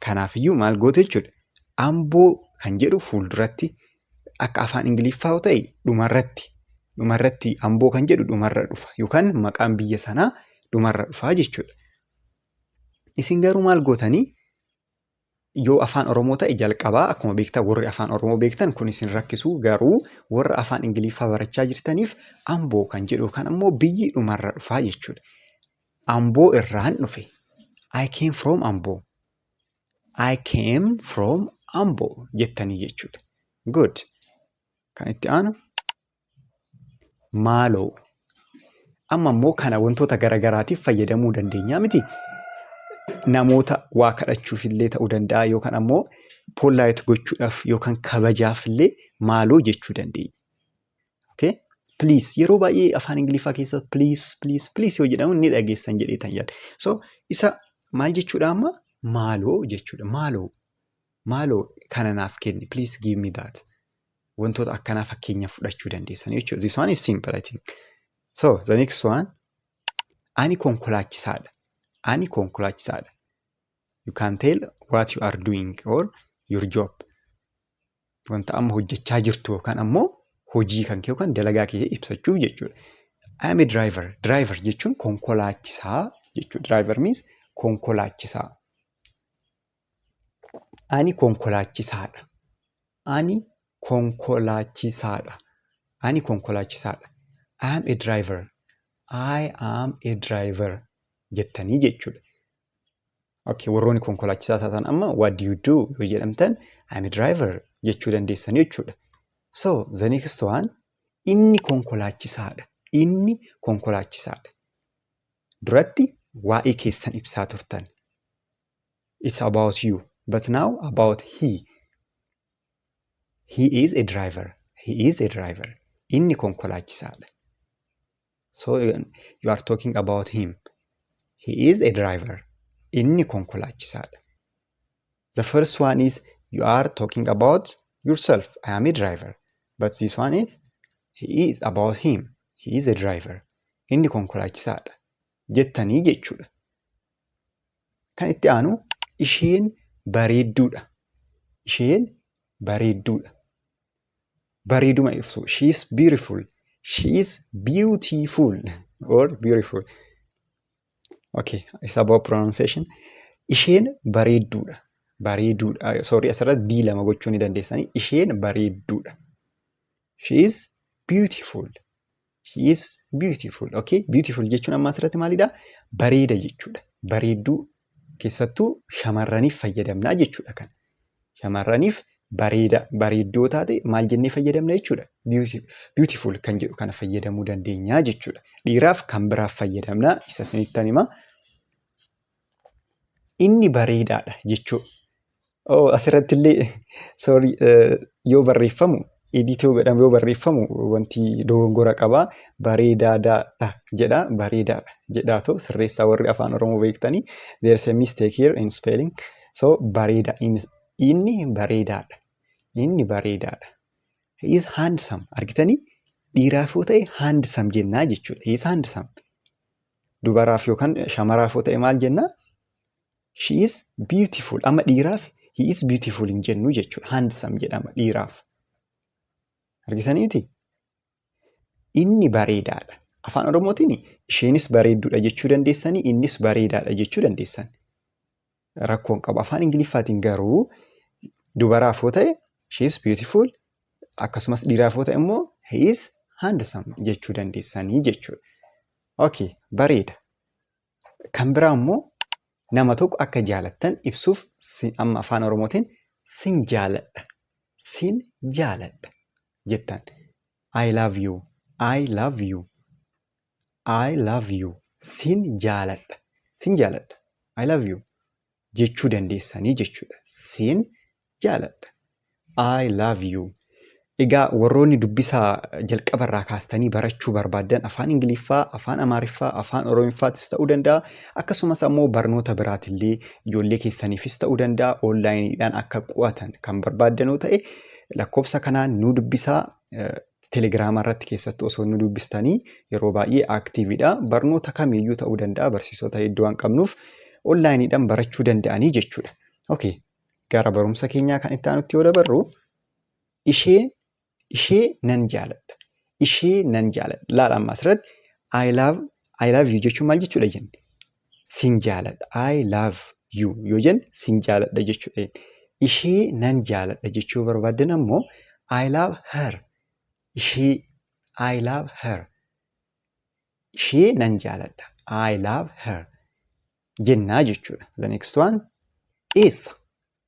Kanaafiyyuu maal goote jechuudha. Amboo kan jedhu fuulduratti akka afaan ingiliffaa yoo ta'e dhumarratti dhumarratti amboo kan jedhu dhumarra dhufa yookaan maqaan biyya sanaa dhumarra dhufa jechuudha. Isin garuu maal gootanii yoo afaan oromoo ta'e jalqabaa akkuma beektan warri afaan oromoo beektan kun isin rakkisuu garuu warra afaan ingiliffaa barachaa jirtaniif amboo kan jedhu yookaan ammoo biyyi dhumarra dhufaa jechuudha. Amboo irraan dhufe. I came from amboo. I came from Ambo jettanii jechuudha. Good. Kan itti aanu maaloo. Amma immoo kana wantoota garaagaraatiif fayyadamuu dandeenya miti. Namoota waa kadhachuuf illee ta'uu danda'a yookaan ammoo pollaayit gochuudhaaf yookaan kabajaaf illee maaloo jechuu dandeenya. Okay? Please yeroo baay'ee afaan Ingiliffaa keessa please please please yoo jedhamu ni dhageessan jedhee tan yaada. So isa maal jechuudha amma maaloo jechuudha maaloo maaloo kana naaf kenni please give me that wantoota akkanaa fakkeenya fudhachuu dandeessan jechuudha. This one is simple I think. So the next one ani konkolaachisaadha. Ani konkolaachisaadha. You can tell what you are doing or your job. wanta amma hojjechaa jirtu yookaan ammoo hojii kan kee yookaan dalagaa kee ibsachuuf jechuudha. I am a driver. Driver jechuun konkolaachisaa jechuudha. Driver means konkolaachisaa. Ani konkolaachisaadha. Ani konkolaachisaadha. Ani konkolaachisaadha. I am a driver. I am a driver jettanii jechuudha. Okay, warroonni konkolaachisaa taatan amma what do you do yoo jedhamtan I'm a driver jechuu dandeessanii jechuudha. So the next one inni konkolaachisaadha. Inni konkolaachisaadha. Duratti waa'ee keessan ibsaa turtan. It's about you but now about he. He is a driver. He is a driver. Inni konkolaachisaadha. So you are talking about him. He is a driver. Inni konkolaachisaadha. The first one is you are talking about yourself. I am a driver. But this one is he is about him. He is a driver. Inni konkolaachisaadha. Jettanii jechuudha. Kan itti aanu isheen bareedduudha. Isheen bareedduudha. bareeduma ibsu she is beautiful she is beautiful or beautiful okay it's about pronunciation isheen bareedduudha bareeduudha sorry asirratti d lama gochuu ni dandeessanii isheen bareedduudha she is beautiful She is beautiful. Okay, beautiful jechuun amma asirratti maalidha? Bareeda jechuudha. Bareedduu keessattuu shamarraniif fayyadamna jechuudha kan. Shamarraniif bareeda bareeddoo taate maal jennee fayyadamna jechuudha? Beautiful kan jedhu kana fayyadamuu dandeenya jechuudha. Dhiiraaf kan biraaf fayyadamna isa isinittan hima. Inni bareedaadha jechuu Oo asirratti illee sorry eh, yoo barreeffamu edit yoo godhamu yoo barreeffamu wanti dogongora qaba bareedaadha jedha bareedaadha jedhaa too sirreessaa warri afaan oromoo beektanii there's a mistake here in spelling so bareeda in- inni bareedaadha inni bareedaadha he is handsome argitanii dhiiraaf yoo ta'e handsome jennaa jechuudha he is handsome dubaraaf yookaan shamaraaf yoo ta'e maal jennaa She is beautiful. Amma dhiiraaf he is beautiful hin jennu jechuudha. Handsome jedhama dhiiraaf. Argitanii miti? Inni bareedaadha. Afaan Oromootiin isheenis bareedduudha jechuu dandeessanii innis bareedaadha jechuu dandeessan. Rakkoon qabu. Afaan Ingiliffaatiin garuu dubaraaf yoo ta'e she is beautiful akkasumas dhiiraaf yoo ta'e immoo he is handsome jechuu dandeessanii jechuudha. Okay, bareeda. Kan biraa immoo nama tokko akka jaalattan ibsuuf amma afaan Oromootiin sin jaaladha. Sin jaaladha jettan. I love you. I love you. I love you. Sin jaaladha. Sin jaaladha. I love you. jechuu dandeessanii jechuudha. Siin jaaladha. I love you. Egaa warroonni dubbisaa jalqaba irraa kaastanii barachuu barbaaddan afaan Ingiliffaa, afaan Amaariffaa, afaan Oromiffaattis ta'uu danda'a. Akkasumas ammoo barnoota biraatillee ijoollee keessaniifis ta'uu danda'a. Oonlaayiniidhaan akka qo'atan kan barbaaddanoo ta'e lakkoofsa kanaan nu dubbisaa. Telegram irratti keessattuu osoo nu dubbistanii yeroo baay'ee active dha. Barnoota kamiyyuu ta'uu danda'a barsiisota hedduu waan qabnuuf online dhaan barachuu danda'anii jechuudha. Okay. Gara barumsa keenyaa kan itti aanutti yoo dabarru ishee ishee nan jaaladha. Ishee nan jaaladha. Laala amma asirratti I love I love you jechuun maal jechuudha jenne? sin jaaladha I love you yoo jenne sin jaaladha jechuudha. Ishee nan jaaladha jechuu yoo barbaaddan ammoo I love her ishee I love her ishee nan jaaladha I love her jennaa jechuudha. The next one eessa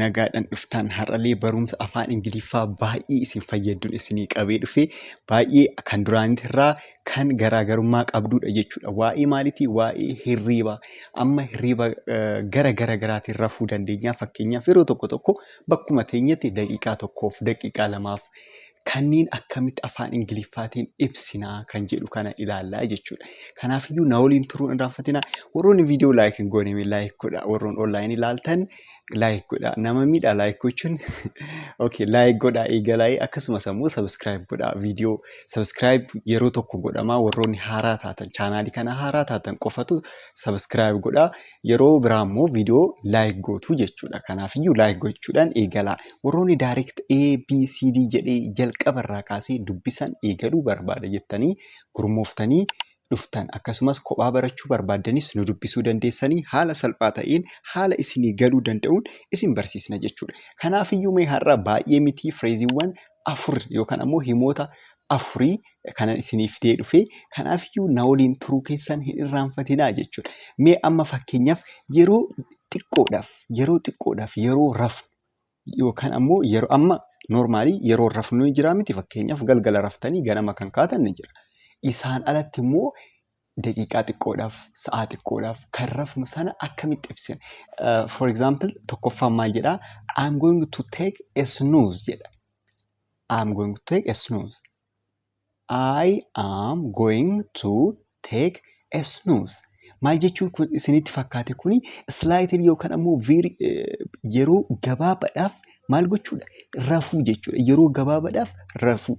nagaadhan dhuftaan har'alee barumsa afaan ingiliffaa baay'ee isin fayyadduun isinii qabee dhufe baay'ee kan duraanitti irraa kan garaagarummaa qabduudha jechuudha waa'ee maalitii waa'ee hirriiba amma hirriiba gara gara garaatiin rafuu dandeenyaa fakkeenyaaf yeroo tokko tokko bakkuma teenyatti daqiiqaa tokkoof daqiiqaa lamaaf kanniin akkamitti afaan Ingiliffaatiin ibsinaa kan jedhu kana ilaallaa jechuudha. Kanaafiyyuu na waliin turuun irraanfatina. Warroonni viidiyoo laayik hin goone laayik godha. Warroon online ilaaltan laayik godha. Nama miidha laayik gochuun. Okay laayik godha eegalaa akkasumas ammoo subscribe godha. Viidiyoo subscribe yeroo tokko godhama. Warroonni haaraa taatan chaanaalii kana haaraa taatan qofatu subscribe godha. Yeroo biraa immoo viidiyoo like gootu jechuudha. Kanaafiyyuu like gochuudhaan eegalaa. Warroonni direct A, B, C, D jedhee jalqaba irraa kaasee dubbisan eegaluu barbaada jettanii gurmooftanii dhuftan akkasumas kophaa barachuu barbaaddanis nu dubbisuu dandeessanii haala salphaa ta'een haala isinii galuu danda'uun isin barsiisna jechuudha. Kanaafiyyuu mee har'a baay'ee mitii fireeziiwwan afur yookaan ammoo himoota afurii kanan isinii fidee dhufe kanaafiyyuu na waliin turuu keessan hin irraanfatinaa jechuudha. Mee amma fakkeenyaaf yeroo xiqqoodhaaf yeroo xiqqoodhaaf yeroo rafnu yookaan ammoo yeroo amma noormaalii yeroo rafnu ni jira miti fakkeenyaaf galgala raftanii ganama kan kaatan ni jira. Isaan alatti immoo daqiiqaa xiqqoodhaaf, sa'aa xiqqoodhaaf kan rafnu sana akkamitti ibsina? Uh, for example, tokkoffaan maal jedha? I'm going to take a snooze jedha. I'm going to take a snooze. I am going to take a snooze. Maal jechuun kun isinitti fakkaate kuni slaayitiin yookaan ammoo viiri yeroo gabaabaadhaaf maal gochuudha? Rafuu jechuudha. Yeroo gabaabaadhaaf rafuu.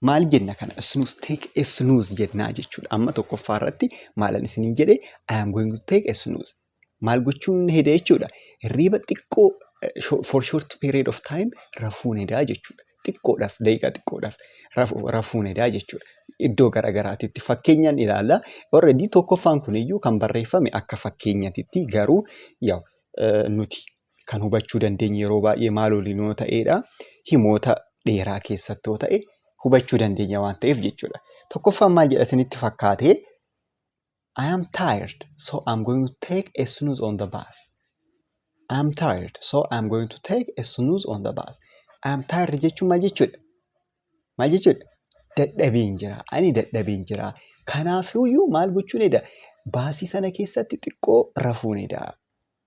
Maal jenna kana? Snooze, take a snooze jennaa jechuudha. Amma tokkoffaa irratti maalan isiniin jedhe I am going to take a snooze. Maal gochuun heda jechuudha. Hirriiba xiqqoo eh, sho- for short period of time rafuun hedaa jechuudha. Xiqqoodhaaf, daqiiqaa xiqqoodhaaf rafu- rafuun hedaa jechuudha. Iddoo garaagaraatitti fakkeenyaan ilaalla. Already tokkoffaan kuniyyuu kan barreeffame akka fakkeenyatitti garuu yaw eh, nuti kan hubachuu dandeenyu yeroo baay'ee maal waliin yoo ta'eedha? Himoota dheeraa keessatti yoo ta'e hubachuu dandeenya waan ta'eef jechuudha. Tokkoffaan maal jedha isinitti fakkaate? I am tired, so I'm going to take a snooze on the bus. I am tired, so I'm going to take a snooze on the bus. I am tired jechuun maal jechuudha? Maal jechuudha? Dadhabeen jira. Ani dadhabeen jira. Kanaafiyyuu maal gochuun edaa? Baasii sana keessatti xiqqoo rafuun edaa.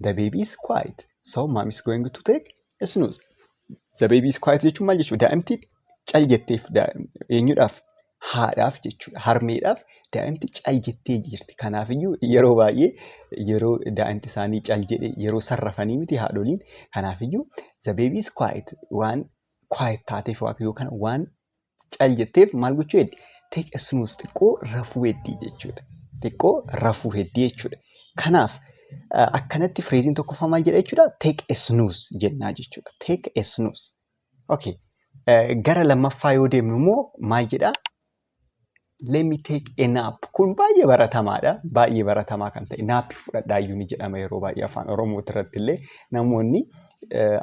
The baby is quiet. So mom is going to take a snooze. The baby is quiet jechuun maal jechuudha? Daa'imti cal jetteef eenyudhaaf? Haadhaaf jechuudha. Harmeedhaaf daa'imti cal jettee jirti. Kanaafiyyuu yeroo baay'ee yeroo daa'imti isaanii cal jedhe yeroo sarrafanii miti haadholiin. Kanaafiyyuu the baby is quiet waan quiet taateef yookaan waan cal jetteef maal gochuu heddi? Take a snooze xiqqoo rafuu heddi jechuudha. Xiqqoo rafuu heddi jechuudha. Kanaaf eh, akkanatti fireeziin tokkoffaa maal jedha jechuudha? Take a snooze jennaa jechuudha. Take a snooze. Okay. Eh, Gara lammaffaa yoo deemnu immoo maal jedha? let me take a nap kun baay'ee baratamaadha baay'ee baratamaa kan ta'e naappi fudhadhaayyuu ni jedhama yeroo baay'ee afaan oromoo irratti illee namoonni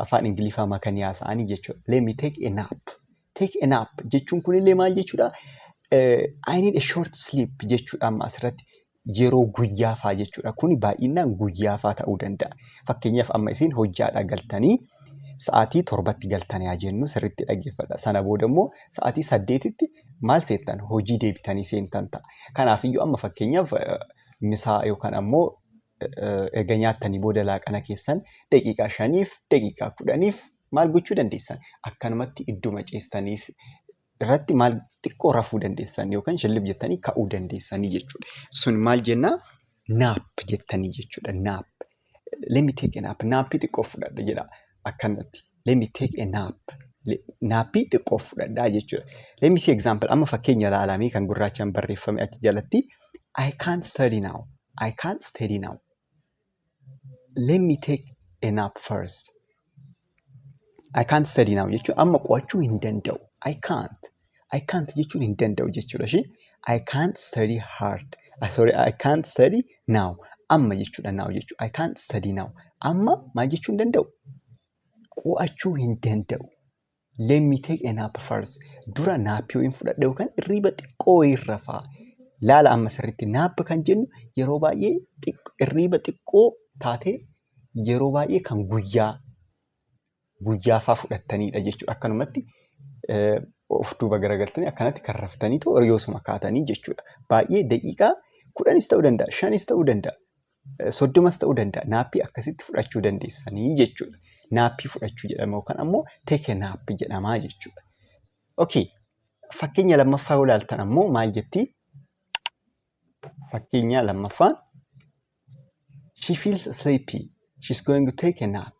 afaan ingiliffaa makanii haasa'anii jechuudha let me take a nap take a nap jechuun kun illee maal jechuudha I need a short sleep jechuudha amma asirratti yeroo guyyaa faa jechuudha. Kuni baay'inaan guyyaa faa ta'uu danda'a. Fakkeenyaaf amma isin hojjaadhaa galtanii sa'aatii torbatti galtan yaa jennu sirriitti dhaggeeffadha. Sana booda immoo sa'aatii saddeetitti maal seentan hojii deebitanii seentan ta'a. Kanaafiyyuu amma fakkeenyaaf eh, misaa yookaan ammoo eh, erga nyaattanii booda laaqana keessan daqiiqaa shaniif daqiiqaa kudhaniif maal gochuu dandeessan akkanumatti idduma ciistaniif irratti maal xiqqoo rafuu dandeessan yookaan shillib jettanii ka'uu dandeessanii jechuudha. Sun maal jennaa naap jettanii jechuudha naap. Let me take a nap. Naappii xiqqoo fudhadha jedha akkanatti. Let me take a nap. Le- Naappii xiqqoo fudhadha jechuudha. Let me see example. Amma fakkeenya ilaalamee kan gurraachaan barreeffame achi jalatti. I can't study now. I can't study now. let me take a nap first I can't study now jechuun amma qo'achuu hin danda'u I can't I can't jechuun hin danda'u jechuudha ishee I can't study hard ah, sorry I can't study now amma jechuudha now jechuudha I can't study now amma maal jechuu hin danda'u qo'achuu hin danda'u Let me take a nap first. Dura naappii wayiin fudhadha yookaan irriiba xiqqoo wayiin rafa. Laala amma sirriitti naap kan jennu yeroo baay'ee xiq- irriiba xiqqoo taatee yeroo baay'ee kan guyyaa guyyaafaa fudhattanidha jechuudha. Akkanumatti eh, of duuba garagaltanii akkanatti kan raftaniitu horiyoosuma kaatanii jechuudha. Baay'ee daqiiqaa kudhanis ta'uu danda'a, shanis ta'uu danda'a. soddomas ta'uu danda'a naappii akkasitti fudhachuu dandeessanii jechuudha. Naappii fudhachuu jedhama yookaan ammoo teke naappi jedhamaa jechuudha. Okay. Fakkeenya lammaffaa yoo ilaaltan ammoo maal jetti? Fakkeenya lammaffaan she feels sleepy. She's going to take a nap.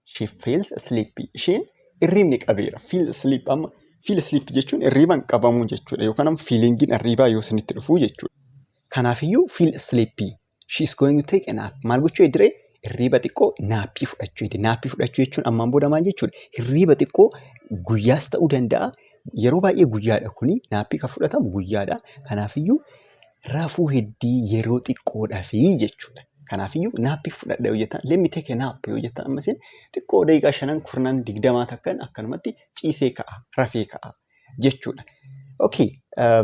She feels sleepy. Isheen irriibni qabeera. Feel sleep amma feel sleep jechuun irriiban qabamuu jechuudha. Yookaan amma feelingiin irriibaa yoo isinitti dhufuu jechuudha. Kanaafiyyuu feel sleepy. She is going to take a nap. Maal gochuu ediree? Irriiba xiqqoo naappii fudhachuu ediree. Naappii fudhachuu jechuun ammaan booda maal jechuudha? Irriiba xiqqoo guyyaas ta'uu danda'a. Yeroo baay'ee guyyaadha kuni. Naappii kan fudhatamu guyyaadha. Kanaafiyyuu rafuu heddii yeroo xiqqoo dhafii jechuudha. Kanaafiyyuu naappiif fudhadha yoo jettan, let me take a nap yoo jettan amma isin xiqqoo daqiiqaa shanan kurnan digdamaa takkan akkanumatti ciisee ka'a, rafee ka'a jechuudha. Okay,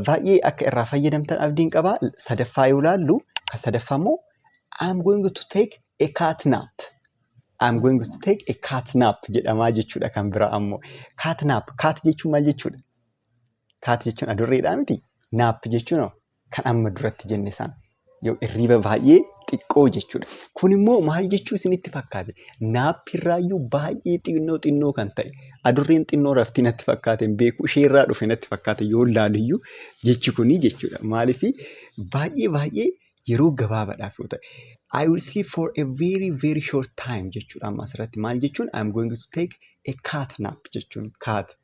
baay'ee akka irraa fayyadamtan abdiin qaba. Sadaffaa yoo laallu, kan sadaffaa immoo I'm going to take a cat nap. I'm going to take a cat nap jedhamaa jechuudha kan biraa ammoo. Cat nap, cat jechuun maal jechuudha? Kaati jechuun adurreedhaa miti? Naappi jechuun hoo kan amma duratti jenne san yoo irriiba baay'ee xiqqoo jechuudha. Kun immoo maal jechuu isinitti fakkaate? Naappi irraayyuu baay'ee xinnoo xinnoo kan ta'e adurreen xinnoo raftii natti fakkaate hin beeku ishee irraa dhufe natti fakkaate yoo laaliyyuu jechi kunii jechuudha. Maaliif baay'ee baay'ee yeroo gabaabaadhaaf yoo ta'e. I will sleep for a very very short time jechuudha amma asirratti maal jechuun I am going to take a cat nap jechuun cat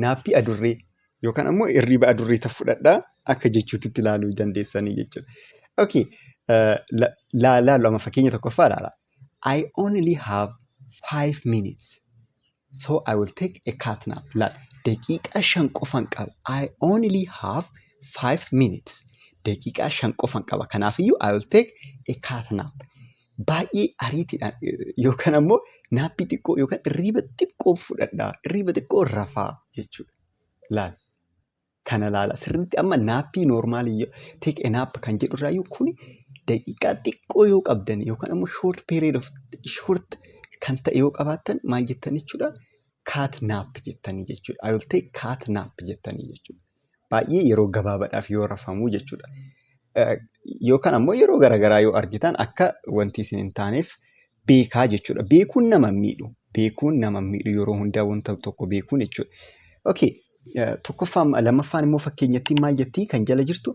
naappii adurree yookaan ammoo hirriba adurree tan fudhadhaa akka jechuutti itti ilaaluu ni dandeessanii jechuudha. Okay. Uh, la, la, lama fakkeenya tokkoffaa ilaala. I only have five minutes. So I will take a cat nap. Laal, daqiiqaa shan qofan qaba. I only have five minutes. Daqiiqaa shan qofan qaba. Kanaafiyyuu I will take a cat nap. baay'ee ariitiidhaan yookaan ammoo naappi xiqqoo yookaan irriiba xiqqoo fudhadhaa irriiba xiqqoo rafaa jechuudha. Laal kana laala sirriitti amma naappii noormaalii take a nap kan jedhu irraayyuu kuni daqiiqaa xiqqoo yoo qabdan yookaan ammoo short period of short kan ta'e yoo qabaattan maal jettan jechuudha kaat naap jettanii jechuudha. I will take kaat naap jettanii jechuudha. baay'ee yeroo gabaabadhaaf yoo rafamu jechuudha. Yookaan ammoo yeroo garaagaraa yoo argitan akka wanti isin hin taaneef beekaa jechuudha. Beekuun nama miidhu. Beekuun nama miidhu yeroo hundaa wanta tokko beekuun jechuudha. Okay. Tokkoffaan lammaffaan immoo fakkeenyattiin maal jettii kan jala jirtu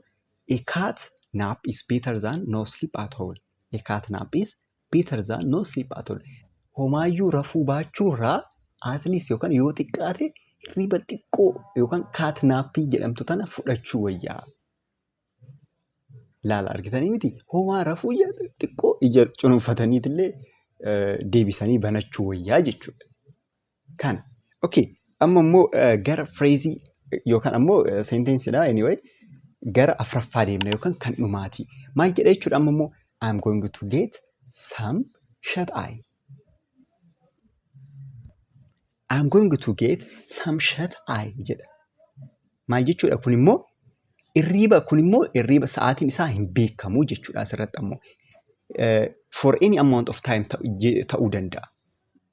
a cat nap is better than no sleep at all. A cat nap is better than no sleep at all. Homaayyuu rafuu baachuurraa at least yookaan yoo xiqqaate hirriba xiqqoo yookaan kaat naappii jedhamtu tana fudhachuu wayyaa. Laala argitanii miti homaa rafuu ija xiqqoo ija cunuunfataniitillee eh, deebisanii banachuu wayyaa jechuudha. Kana. Okay. Amma immoo eh, gara fireezii yookaan ammoo seentensiidha anyway gara afraffaa deemna yookaan kan dhumaati. Maal jedha jechuudha amma immoo I'm going to get some shut eye. I'm going to get some shut eye jedha. Maal jechuudha kun immoo irriiba kun immoo irriiba sa'aatiin isaa hin beekamu jechuudha asirratti ammoo. Eh, for any amount of time ta'u- je- ta'uu danda'a.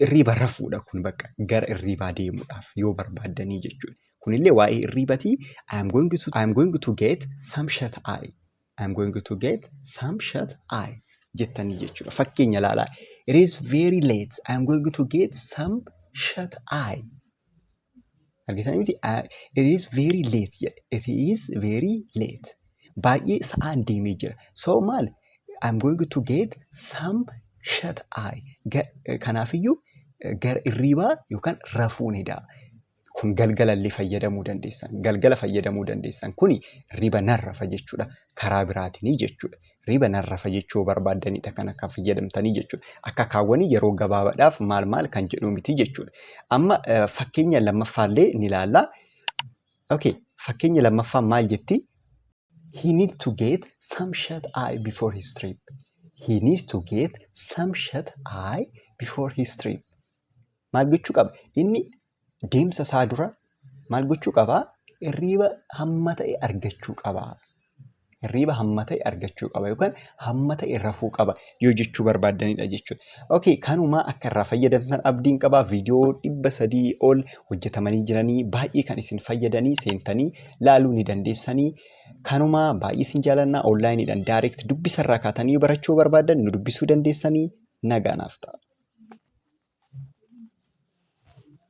irriiba rafuudha kun bakka gara irriibaa deemuudhaaf yoo barbaaddanii jechuudha. Kunillee waa'ee irriibatii I am going to, I am going to get some shut eye. I am going to get some shut eye jettanii jechuudha. Fakkeenya ilaalaa. It is very late. I am going to get some shut eye. Argitanii miti it is very late jedhe it is very late baay'ee sa'aan deemee jira so maal I'm going to get some shut eye kanaafiyyuu gara irriibaa yookaan rafuu ni da'a. Kun galgalallee fayyadamuu dandeessan. Galgala fayyadamuu dandeessan. Kuni riba narrafa jechuudha. Karaa biraatinii jechuudha. riba narra fajechuu barbaaddanidha kan akka fayyadamtanii jechuudha. Akka kaawwanii yeroo gabaabadhaaf maal maal kan jedhu miti jechuudha. Amma fakkeenya lammaffaallee ni ilaalla. Okay, fakkeenya lammaffaa maal jetti? He needs to get some shut eye before his trip. He needs to get some shut eye before his trip. Maal gochuu qaba? Inni deemsa isaa dura maal gochuu qaba? Hirriiba hamma ta'e argachuu qaba. Hirriiba hamma ta'e argachuu qaba yookaan hamma ta'e rafuu qaba yoo jechuu barbaaddanidha jechuudha. Okay, kanumaa akka irraa fayyadamtan abdiin qaba. Viidiyoo dhibba sadii ol hojjetamanii jiranii baay'ee kan isin fayyadanii seentanii laaluu ni dandeessanii. Kanumaa baay'ee isin jaalannaa onlaayiniidhaan daayireekt dubbisarraa kaatanii barachuu barbaaddan nu dubbisuu dandeessanii nagaa naaf ta'a.